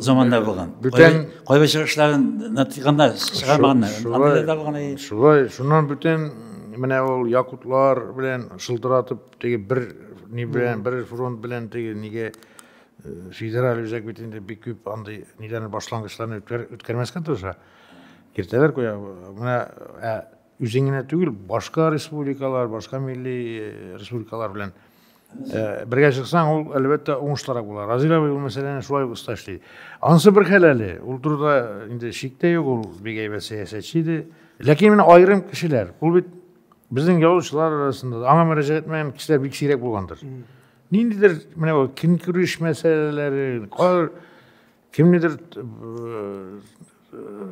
заманда булган. Бүтән кайбер чыгышларын натыкканда чыгармаганнар. Шулай да булган. Шулай, шуннан бүтән менә ул якутлар белән шылтыратып теге бер ни белән, бер фронт белән теге нигә федераль үзәк бит инде бик күп андый ниләрне башлангычларны үткәрмәскә тырыша. Кертәләр куя. Менә Үзең генә түгел, башка республикалар, башка милли республикалар белән бергә чыксаң, ул әлбәттә уңышлырак була. Разил абый ул мәсьәләне шулай ук оста эшли. Анысы бер хәл әле. Ул турыда инде шик тә юк, ул бик әйбәт сәясәтче иде. Ләкин менә аерым кешеләр, ул бит безнең язучылар арасында аңа мөрәҗәгать итмәгән кешеләр бик сирәк булгандыр. Ниндидер менә ул көнкүреш мәсьәләләре, кар Кемнедер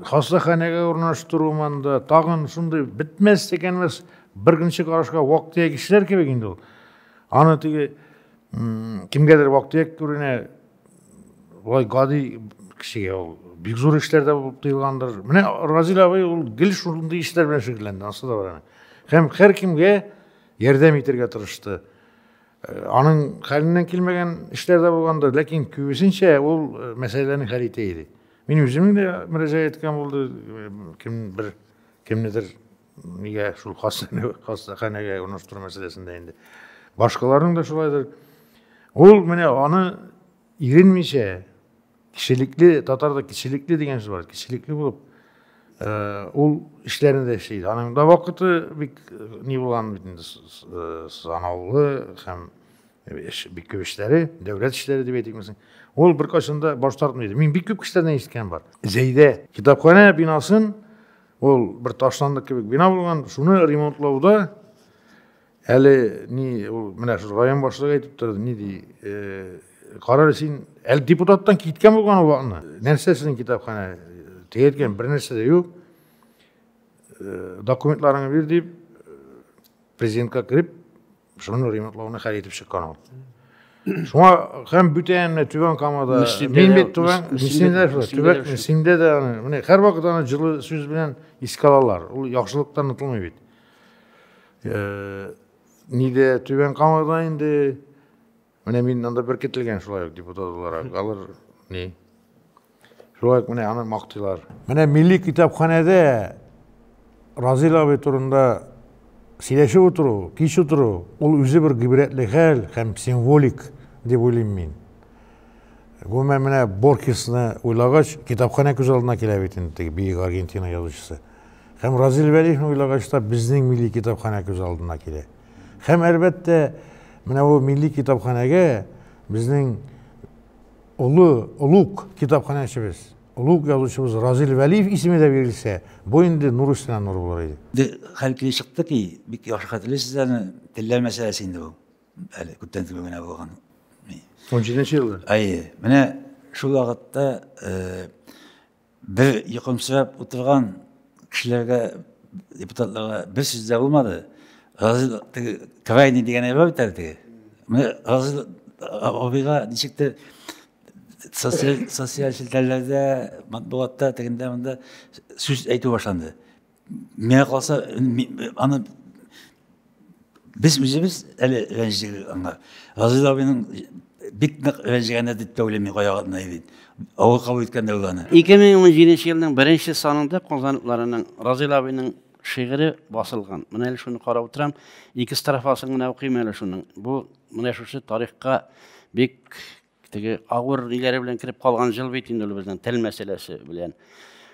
хастаханәгә урнаштыру монда, тагын шундый бетмәс текәнмәс беркөнче карашка вак-төяк кешеләр кебек инде ул. Аны теге кемгәдер вак-төяк күренә, болай гади кешегә ул бик зур эшләр дә булып тоелгандыр. Менә Разил абый ул гел шундый эшләр белән шөгыльләнде, ансы да бар. Һәм һәркемгә ярдәм итәргә тырышты. Аның хәленнән килмәгән эшләр дә булгандыр, ләкин күбесенчә ул мәсьәләләрне хәл итә иде. Мин үземнең дә мөрәҗәгать иткән булды, кем бер кемнедер нигә шул хастаханәгә урнаштыру мәсьәләсендә инде. Башкаларның да шулайдыр. Ул менә аны иренмичә Кешелекле, татарда кешелекле дигән сүз бар. Кешелекле булып, э, ул эшләрен дә эшли. Аның да вакыты бик э, ни булган бит инде э, санаулы һәм эш бик күп эшләре, дәүләт эшләре дип әйтимсең. Ул бер кашында баш тартмый. Мин бик күп кешеләрдән ишеткән бар. Зәйдә китапханә бинасын ул бер ташландык кебек бина булган, шуны ремонтлауда Әле ни ул менә шул район башлыгы әйтеп торды, ни ди, э, карар син әле депутаттан киткән булган вакытны. Нәрсә сезнең китапханә? Теге әйткән бер нәрсә дә юк. Э, документларыңны бир дип э, президентка кереп, шуны ремонтлауны хәл итеп чыккан ул. Шуңа һәм бүтән менә Түбән Камада мин бит Түбән Мөслимдә Түбән Мөслимдә дә менә һәрвакыт аны җылы сүз белән искә алалар. Ул яхшылыктан онытылмый бит. Нидә Түбән Камада инде менә мин анда беркетелгән шулай ук депутат буларак. Алар ни? Шулай ук менә аны мактыйлар. Менә милли китапханәдә Разил абый турында сөйләшеп утыру, кич утыру, ул үзе бер гыйбрәтле хәл һәм символик дип уйлыйм мин. Гомумән менә Борхесны уйлагач, китапханә күз алдына килә бит инде, теге биек Аргентина язучысы. Һәм Разил Вәлиевне уйлагач та, безнең милли китапханә күз алдына килә. Һәм, әлбәттә, менә бу милли китапханәгә безнең олы, олуг китапханәчебез, олуг язучыбыз Разил Вәлиев исеме дә бирелсә, бу инде нур өстенә нур булыр иде. Инде хәл килеп чыкты ки, бик яхшы хәтерлисез аны, телләр мәсьәләсе инде ул. Әле күптән түгел генә булган. Унҗиденче елда? Әйе. Менә шул вакытта Бер йокымсырап утырган кешеләргә, депутатларга бер сүз дә булмады. Разил теге крайний дигән әйбер бит әле теге. Менә Разил абыйга ничектер социаль социаль челтәрләрдә, матбугатта тегендә монда сүз әйтү башланды. миңа калса аны без үзебез әле рәнҗедек аңа разил абыйның бик нык рәнҗегәне дип тә уйлыйм миңа ягына бит авыр кабул иткән дә ул аны ике мең он җиденче елның беренче санында казаныкларының разил абыйның шигыре басылган менә әле шуны карап утырам ике строфасын гына укыйм әле шуның бу менә шушы тарихка бик Теге авыр ниләре белән кереп калган җыл бит инде ул безнең тел мәсьәләсе белән.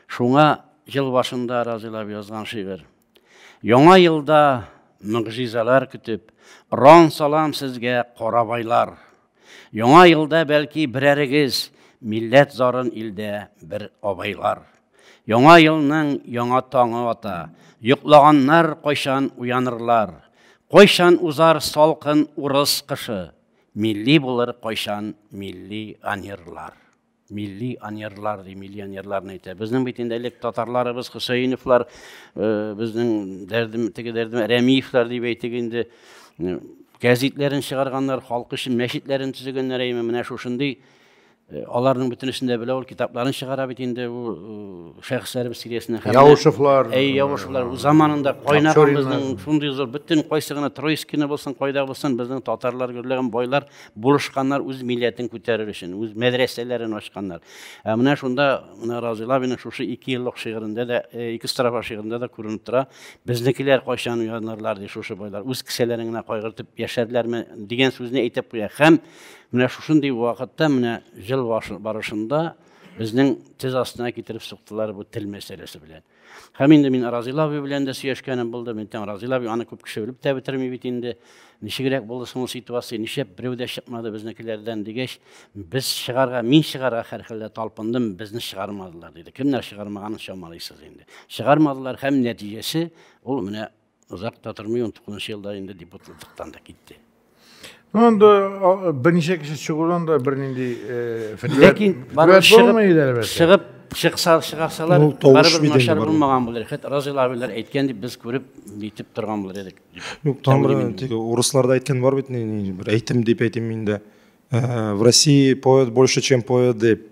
Шуңа ел башында разыйлап язган шигырь. Яңа елда мөгъҗизалар көтеп, ран салам сезгә карабайлар. Яңа елда бәлки берәрегез милләт зарын илдә бер абайлар. Яңа елның яңа таңы ата, йоклаганнар кайчан уянырлар? Кайчан узар салкын урыс кышы? Милли булыр кайчан милли анерлар. Милли анерлар, ди, милли анерларны әйтә. Безнең бит инде элек татарларыбыз, Хөсәеновлар, э, безнең дәрдем, теге дәрдем, Рәмиевлар дип әйтик инде, э, газетләрен чыгарганнар, халкы өчен мәчетләрен төзегәннәр, әйме, менә шушындый Э, аларның бөтенесен дә белә ул китапларын чыгара бит инде ул э, шәхесләребез сериясенә һәм яушевлар әй яушевлар ул заманында кайнаган безнең шундый зур бөтен кайсы гына троицкины булсын кайда булсын безнең татарлар гөрләгән байлар булышканнар үз милләтен күтәрер өчен үз мәдрәсәләрен ачканнар ә менә шунда менә разил абиның шушы ике еллык шигырендә дә э, ике строфа шигырендә дә күренеп тора безнекеләр кайчан уянарлар ди шушы байлар үз кесәләрен генә кайгыртып яшәрләрме дигән сүзне әйтеп куя һәм Менә шушындый вакытта, менә жыл барышында безнең тез астына китереп суктылар бу тел мәсьәләсе белән. Һәм инде мин Разил абый белән дә сөйләшкәнем булды. Мин тәм Разил абый аны күп кеше белеп тә бетерми бит инде. Ничегрәк булды соң ситуация, нишләп берәү дә чыкмады безнекеләрдән дигәч, без чыгарга, мин чыгарга хәрхәлдә талпындым, безне чыгармадылар диде. Кемнәр чыгармаганын чамалыйсыз инде. Чыгармадылар һәм нәтиҗәсе ул менә Озак та тормый, 19 елда инде депутатлыктан да китте. Ну, анда берничә кеше чыгудан да бернинди Ләкин чыгып чыкса чыгасалар, барыбер начар булмаган булыр. Хәтта Разил абилар әйткән дип без күреп әйтеп торган булыр идек. Юк, там тик урысларда әйткән бар бит, бер әйтем дип әйтим инде. В России поет больше, чем поет дип.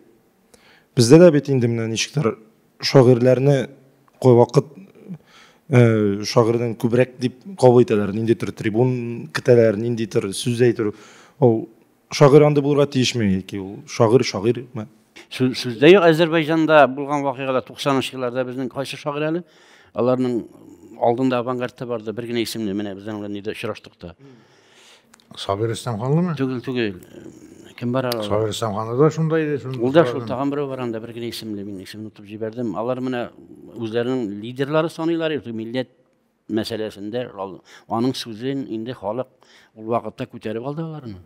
Бездә дә бит инде менә ничектер шагыйрьләрне кайвакыт э, шагыйрьдән күбрәк дип кабул итәләр. Ниндидер трибун көтәләр, ниндидер сүз әйтер. Ул шагыйрь андый булырга тиешме яки ул шагыйрь шагыйрь ме? Сүздә юк Азәрбайҗанда булган вакыйгалар 90-нчы елларда безнең кайсы шагыйрь әле? Аларның алдында авангардта барды, бер генә исемне менә безнең белән нидә очраштык та. Сабир Исламханлымы? Түгел, түгел. Кем бар алар? Сабир Исламханлы да шунда иде. Ул да шул тагын берәү бар анда, бер генә исемле, мин исемен отып җибәрдем. Алар менә үзләренең лидерлары саныйлар иде, милләт мәсьәләсендә аның сүзен инде халык ул вакытта күтәреп алды аларны.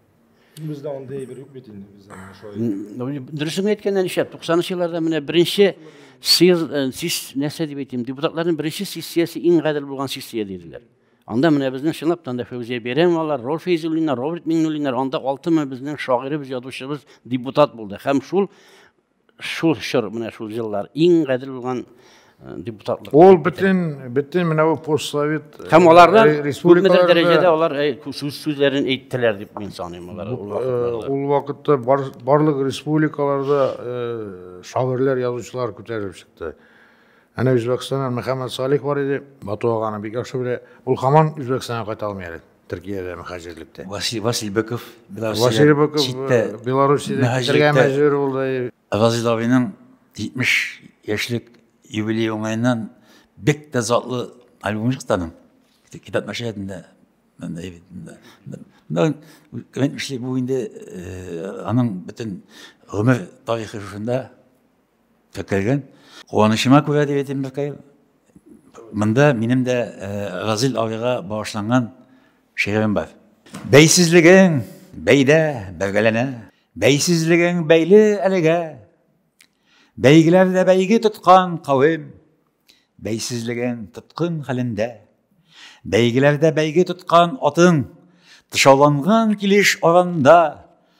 Бездә андый әйбер юк бит инде бездә шулай. Дөресен әйткәндә ничә 90-нчы елларда менә беренче сез нәрсә дип әйтим, депутатларның беренче сессиясе иң гадел булган сессия диделәр. Анда менә безнең чынлап та анда Фәүзия Бәйрәмовалар, Рол Фәйзуллиннар, Роберт Миңнуллиннар, анда алты мең безнең шагыйребез, язучыбыз депутат булды. Һәм шул шул чор, менә шул еллар иң гадел булган э, депутатлык. Ул бөтен бөтен менә бу постсовет э, һәм аларда күпмедер дәрәҗәдә алар э, сүз сүзләрен әйттеләр дип мин саныйм алар. Ул вакытта барлык республикаларда шагыйрьләр, язучылар күтәрелеп чыкты. Әнә Үзбәкстаннан Мөхәммәд Салих бар иде, Бату ага аны бик яхшы белә. Ул һаман Үзбәкстанга кайта алмый әле, Төркиядә мөхаҗирлектә. Василий Василий Быков Белоруссиядән Быков читтә Белоруссиядән китәргә мөхаҗирлектә. мәҗбүр булды. Газиз абыйның 70 яшьлек юбилее уңаеннан бик тә затлы альбомы чыкты аның. Китап нәшриятында монда бит монда. Монда әйтмешли, бу инде аның бөтен гомер тарихы шушында. Көтелгән. Куанычыма күрә дип әйтим бәкәй. Монда минем дә Разил абыйга багышланган шигырем бар. Бәйсезлегең бәйдә бәйгәләнә, бәйсезлегең бәйле әлегә. Бәйгеләрдә бәйге тоткан кавем, Бәйсезлеген тоткын хәлендә, бәйгеләрдә бәйге тоткан атың, тышауланган килеш аранда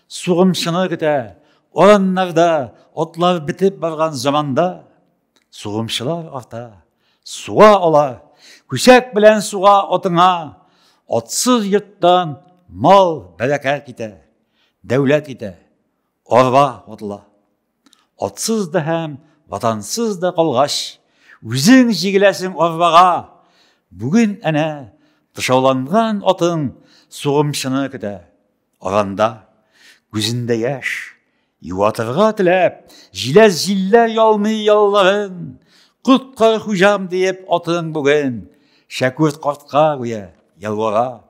сугымчыны көтә, ораннарда отлар бетеп барган заманда сугымчылар арта, суа ала, күсәк белән суга атыңа, атсыз йорттан мал бәрәкәт китә, дәүләт китә, арба ватыла. Атсыз да һәм ватансыз да калгач, үзең җигеләсең арбага. Бүген әнә тышауланган атың сугымчыны көтә. Аранда күзендә яшь, юатырга теләп, җиләс җилләр ялмый ялларын. Коткар хуҗам диеп атың бүген Шәкүрт картка гүя ялвара.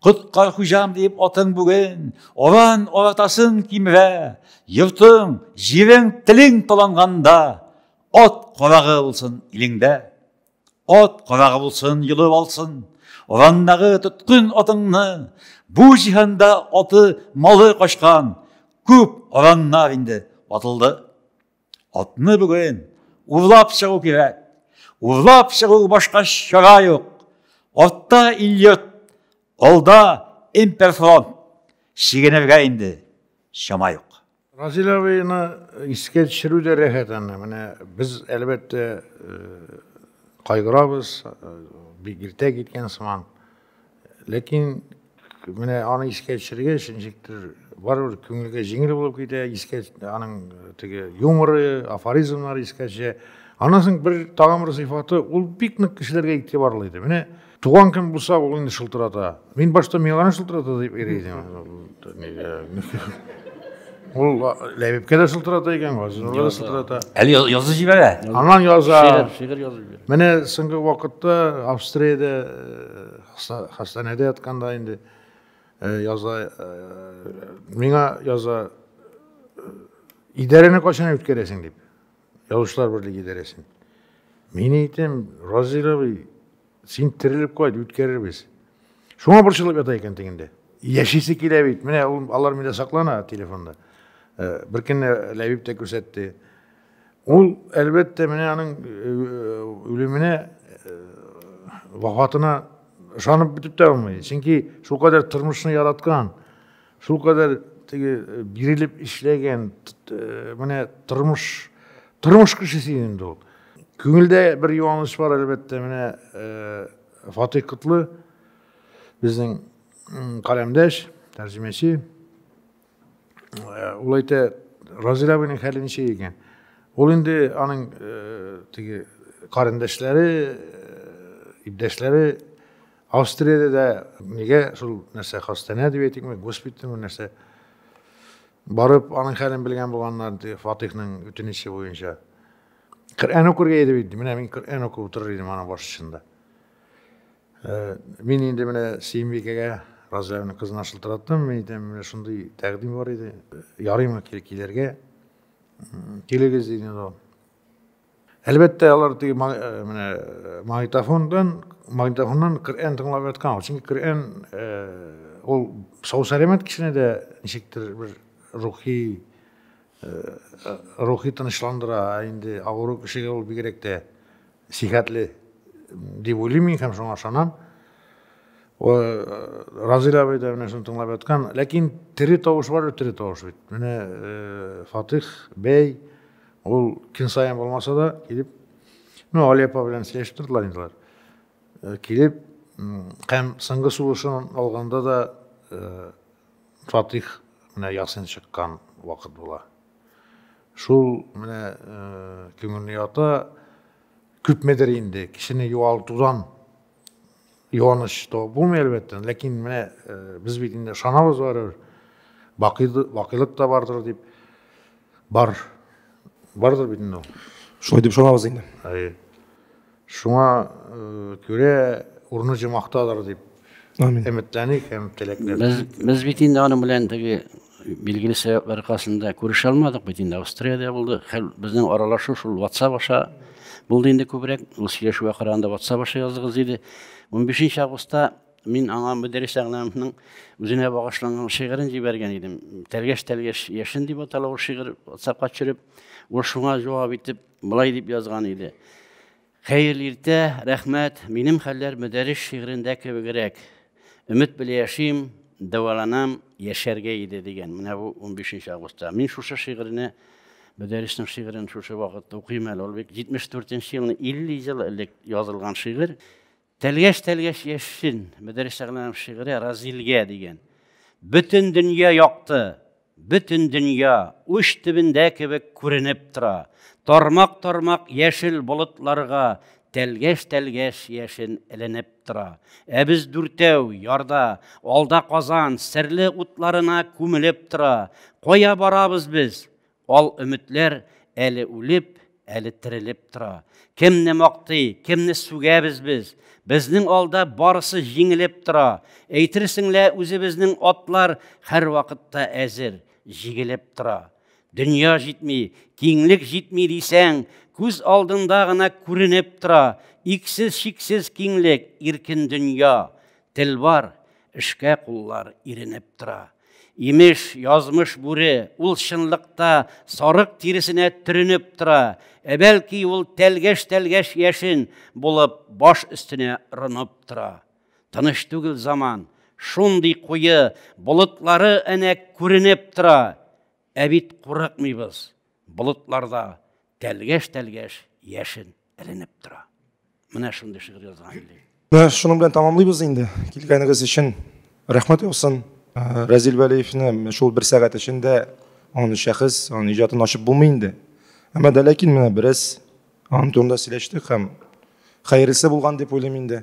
Коткар хуҗам дип атың бүген, оран оратасын кимерә. Йортың, җирең, телең таланганда, ат карагы булсын илеңдә. Ат карагы булсын, йолып алсын. Урандагы тоткын атыңны, бу җиһанда аты, малы качкан, күп ораннар инде ватылды. Атны бүген урлап чыгу кирәк. Урлап чыгу башка чара юк. Атта Ильет, алда Имперфронт. Чигенергә инде чама юк. Разил абыйны искә төшерү дә рәхәт аны. Менә без әлбәттә э, кайгырабыз, э, бик иртә киткән сыман. Ләкин менә аны искә төшергәч, ничектер барыбер күңелгә җиңел булып китә, искә аның теге юморы, афоризмнары искә төшә. Аннан соң бер тагын бер сыйфаты, ул бик нык кешеләргә игътибарлы иде. Менә туган көн булса, ул инде шылтырата. Мин башта миңа гына шылтырата дип йөри идем. Ул Ләбибкә дә сылтырата икән, Газизуллага да сылтырата. Әле язы җибәрә. Аннан яза. Шигырь, шигырь язып җибәрә. Менә соңгы вакытта Австриядә хастаханәдә ятканда инде яза миңа яза идарәне кайчан үткәрәсең дип. Язучылар берлеге идарәсен. Мин әйтәм, Разил абый, Син терелеп кайт, үткәрербез. Шуңа борчылып ята икән тегендә. Яшисе килә бит. Менә ул алар миндә саклана телефонда. Э, бер көнне Ләбиб тә күрсәтте. Ул, әлбәттә, менә аның э, үлеменә, э, вафатына ышанып бетеп тә булмый. Чөнки шулкадәр тормышны яраткан. Шулкадәр теге э, бирелеп эшләгән э, менә тормыш тормыш кешесе инде ул. Күңелдә бер юаныч бар әлбәттә, менә э, Фатих Котлы безнең каләмдәш, тәрҗемәче. Ул әйтә, Разилә абыйның хәле ничек икән? Ул инде аның теге карендәшләре, иптәшләре Австриядә дә нигә шул нәрсә хастана дип әйтикме, госпитальме нәрсә? Барып, аның хәлен белгән булганнар, ди, Фатихның үтенече буенча. Коръән укырга иде бит, менә мин Коръән укып утырыр идем аның башчында. Э, мин инде менә Сиембикәгә Разләвне кызына шылтыраттым, мин әйтәм, менә шундый тәкъдим бар иде, ярыймы килергә? Килегез, диде ул. Әлбәттә, алар теге менә магнитофондан, магнитофоннан Коръән тыңлап яткан. Чөнки Коръән ул сау сәламәт кешене дә ничектер бер рухи рухи тынычландыра, ә инде авыру кешегә ул бигрәк тә сихәтле дип уйлыйм мин һәм шуңа ышанам. Разил абый да менә шуны тыңлап яткан. Ләкин тере тавыш бар, тере тавыш бит. Менә Фатих бәй Ул көн саен булмаса да килеп, ну, Али апа белән сөйләшеп тордылар инде алар. Э, килеп, һәм соңгы сулышын алганда да э, Фатих менә Ясин чыккан вакыт була. Шул менә э, күңелне ята, күпмедер инде кешене югалтудан Юаныч то булмый, әлбәттә, ләкин менә без бит инде ышанабыз барыбер, бакыйлык та бардыр дип, бар, бардыр бит инде ул. Шулай дип ышанабыз инде. Әйе. Шуңа күрә урыны җомактадыр дип Амин. Өметләник һәм теләкләр. Без, без бит инде аның белән теге Билгеле сәбәпләр аркасында күрешә алмадык бит инде, Австриядә булды. Хәл безнең аралашу шул WhatsApp аша булды инде күбрәк. Ул сөйләшүгә караганда WhatsApp аша яздыгыз диде. 15 августта мин аңа Мөдәррис Әгънәмовның үзенә багышланган шигырен җибәргән идем. Тәлгәш-тәлгәш яшен дип атала ул шигырь WhatsAppка төшереп, ул шуңа җавап итеп, былай дип язган иде. Хәерле иртә, рәхмәт. Минем хәлләр Мөдәррис шигырендә кебегрәк. Өмет белә яшим, дәваланам, яшәргә иде дигән. Менә бу 15 нче августта. Мин шушы шигырьне, Мөдәрриснең шигырен шушы вакытта укыйм әле. Ул бит 74 нче елны, 50 ел элек язылган шигырь. Тәлгәш-тәлгәш яшен, Мөдәррис Шәгъләнов шигыре Разилгә дигән. Бөтен дөнья якты, бөтен дөнья уч төбендә кебек күренеп тора. Тармак-тармак яшел болытларга тәлгәш-тәлгәш яшен эленеп тора. Ә без дүртәү, ярда, алда Казан, серле утларына күмелеп тора. Кая барабыз без? Ал өметләр әле үлеп, әле терелеп тора. Кемне мактый, кемне сүгәбез без? Безнең алда барысы җиңелеп тора. Әйтерсең лә үзебезнең атлар һәрвакытта әзер, җигелеп тора. Дөнья җитми, киңлек җитми дисәң, күз алдында гына күренеп тора. Иксез-чиксез киңлек, иркен дөнья. Тел бар, эшкә куллар иренеп тора. Имеш, язмыш бүре, ул чынлыкта сарык тиресенә төренеп тора, ә бәлки ул тәлгәш-тәлгәш яшен булып баш өстенә рынып тора. Тыныч түгел заман, шундый куе, болытлары әнә күренеп тора, ә бит курыкмыйбыз, болытларда тәлгәш-тәлгәш яшен. эленеп тора. Менә шундый шигырь язган инде. Менә шуның белән тәмамлыйбыз инде. Килгәнегез өчен рәхмәт яусын. Э, Разил Вәлиевне шул бер сәгать эчендә аны шәхес, аны иҗатын ачып булмый инде. Әмма дә ләкин менә бераз аның турында сөйләштек һәм хәерлесе булган дип уйлыйм инде.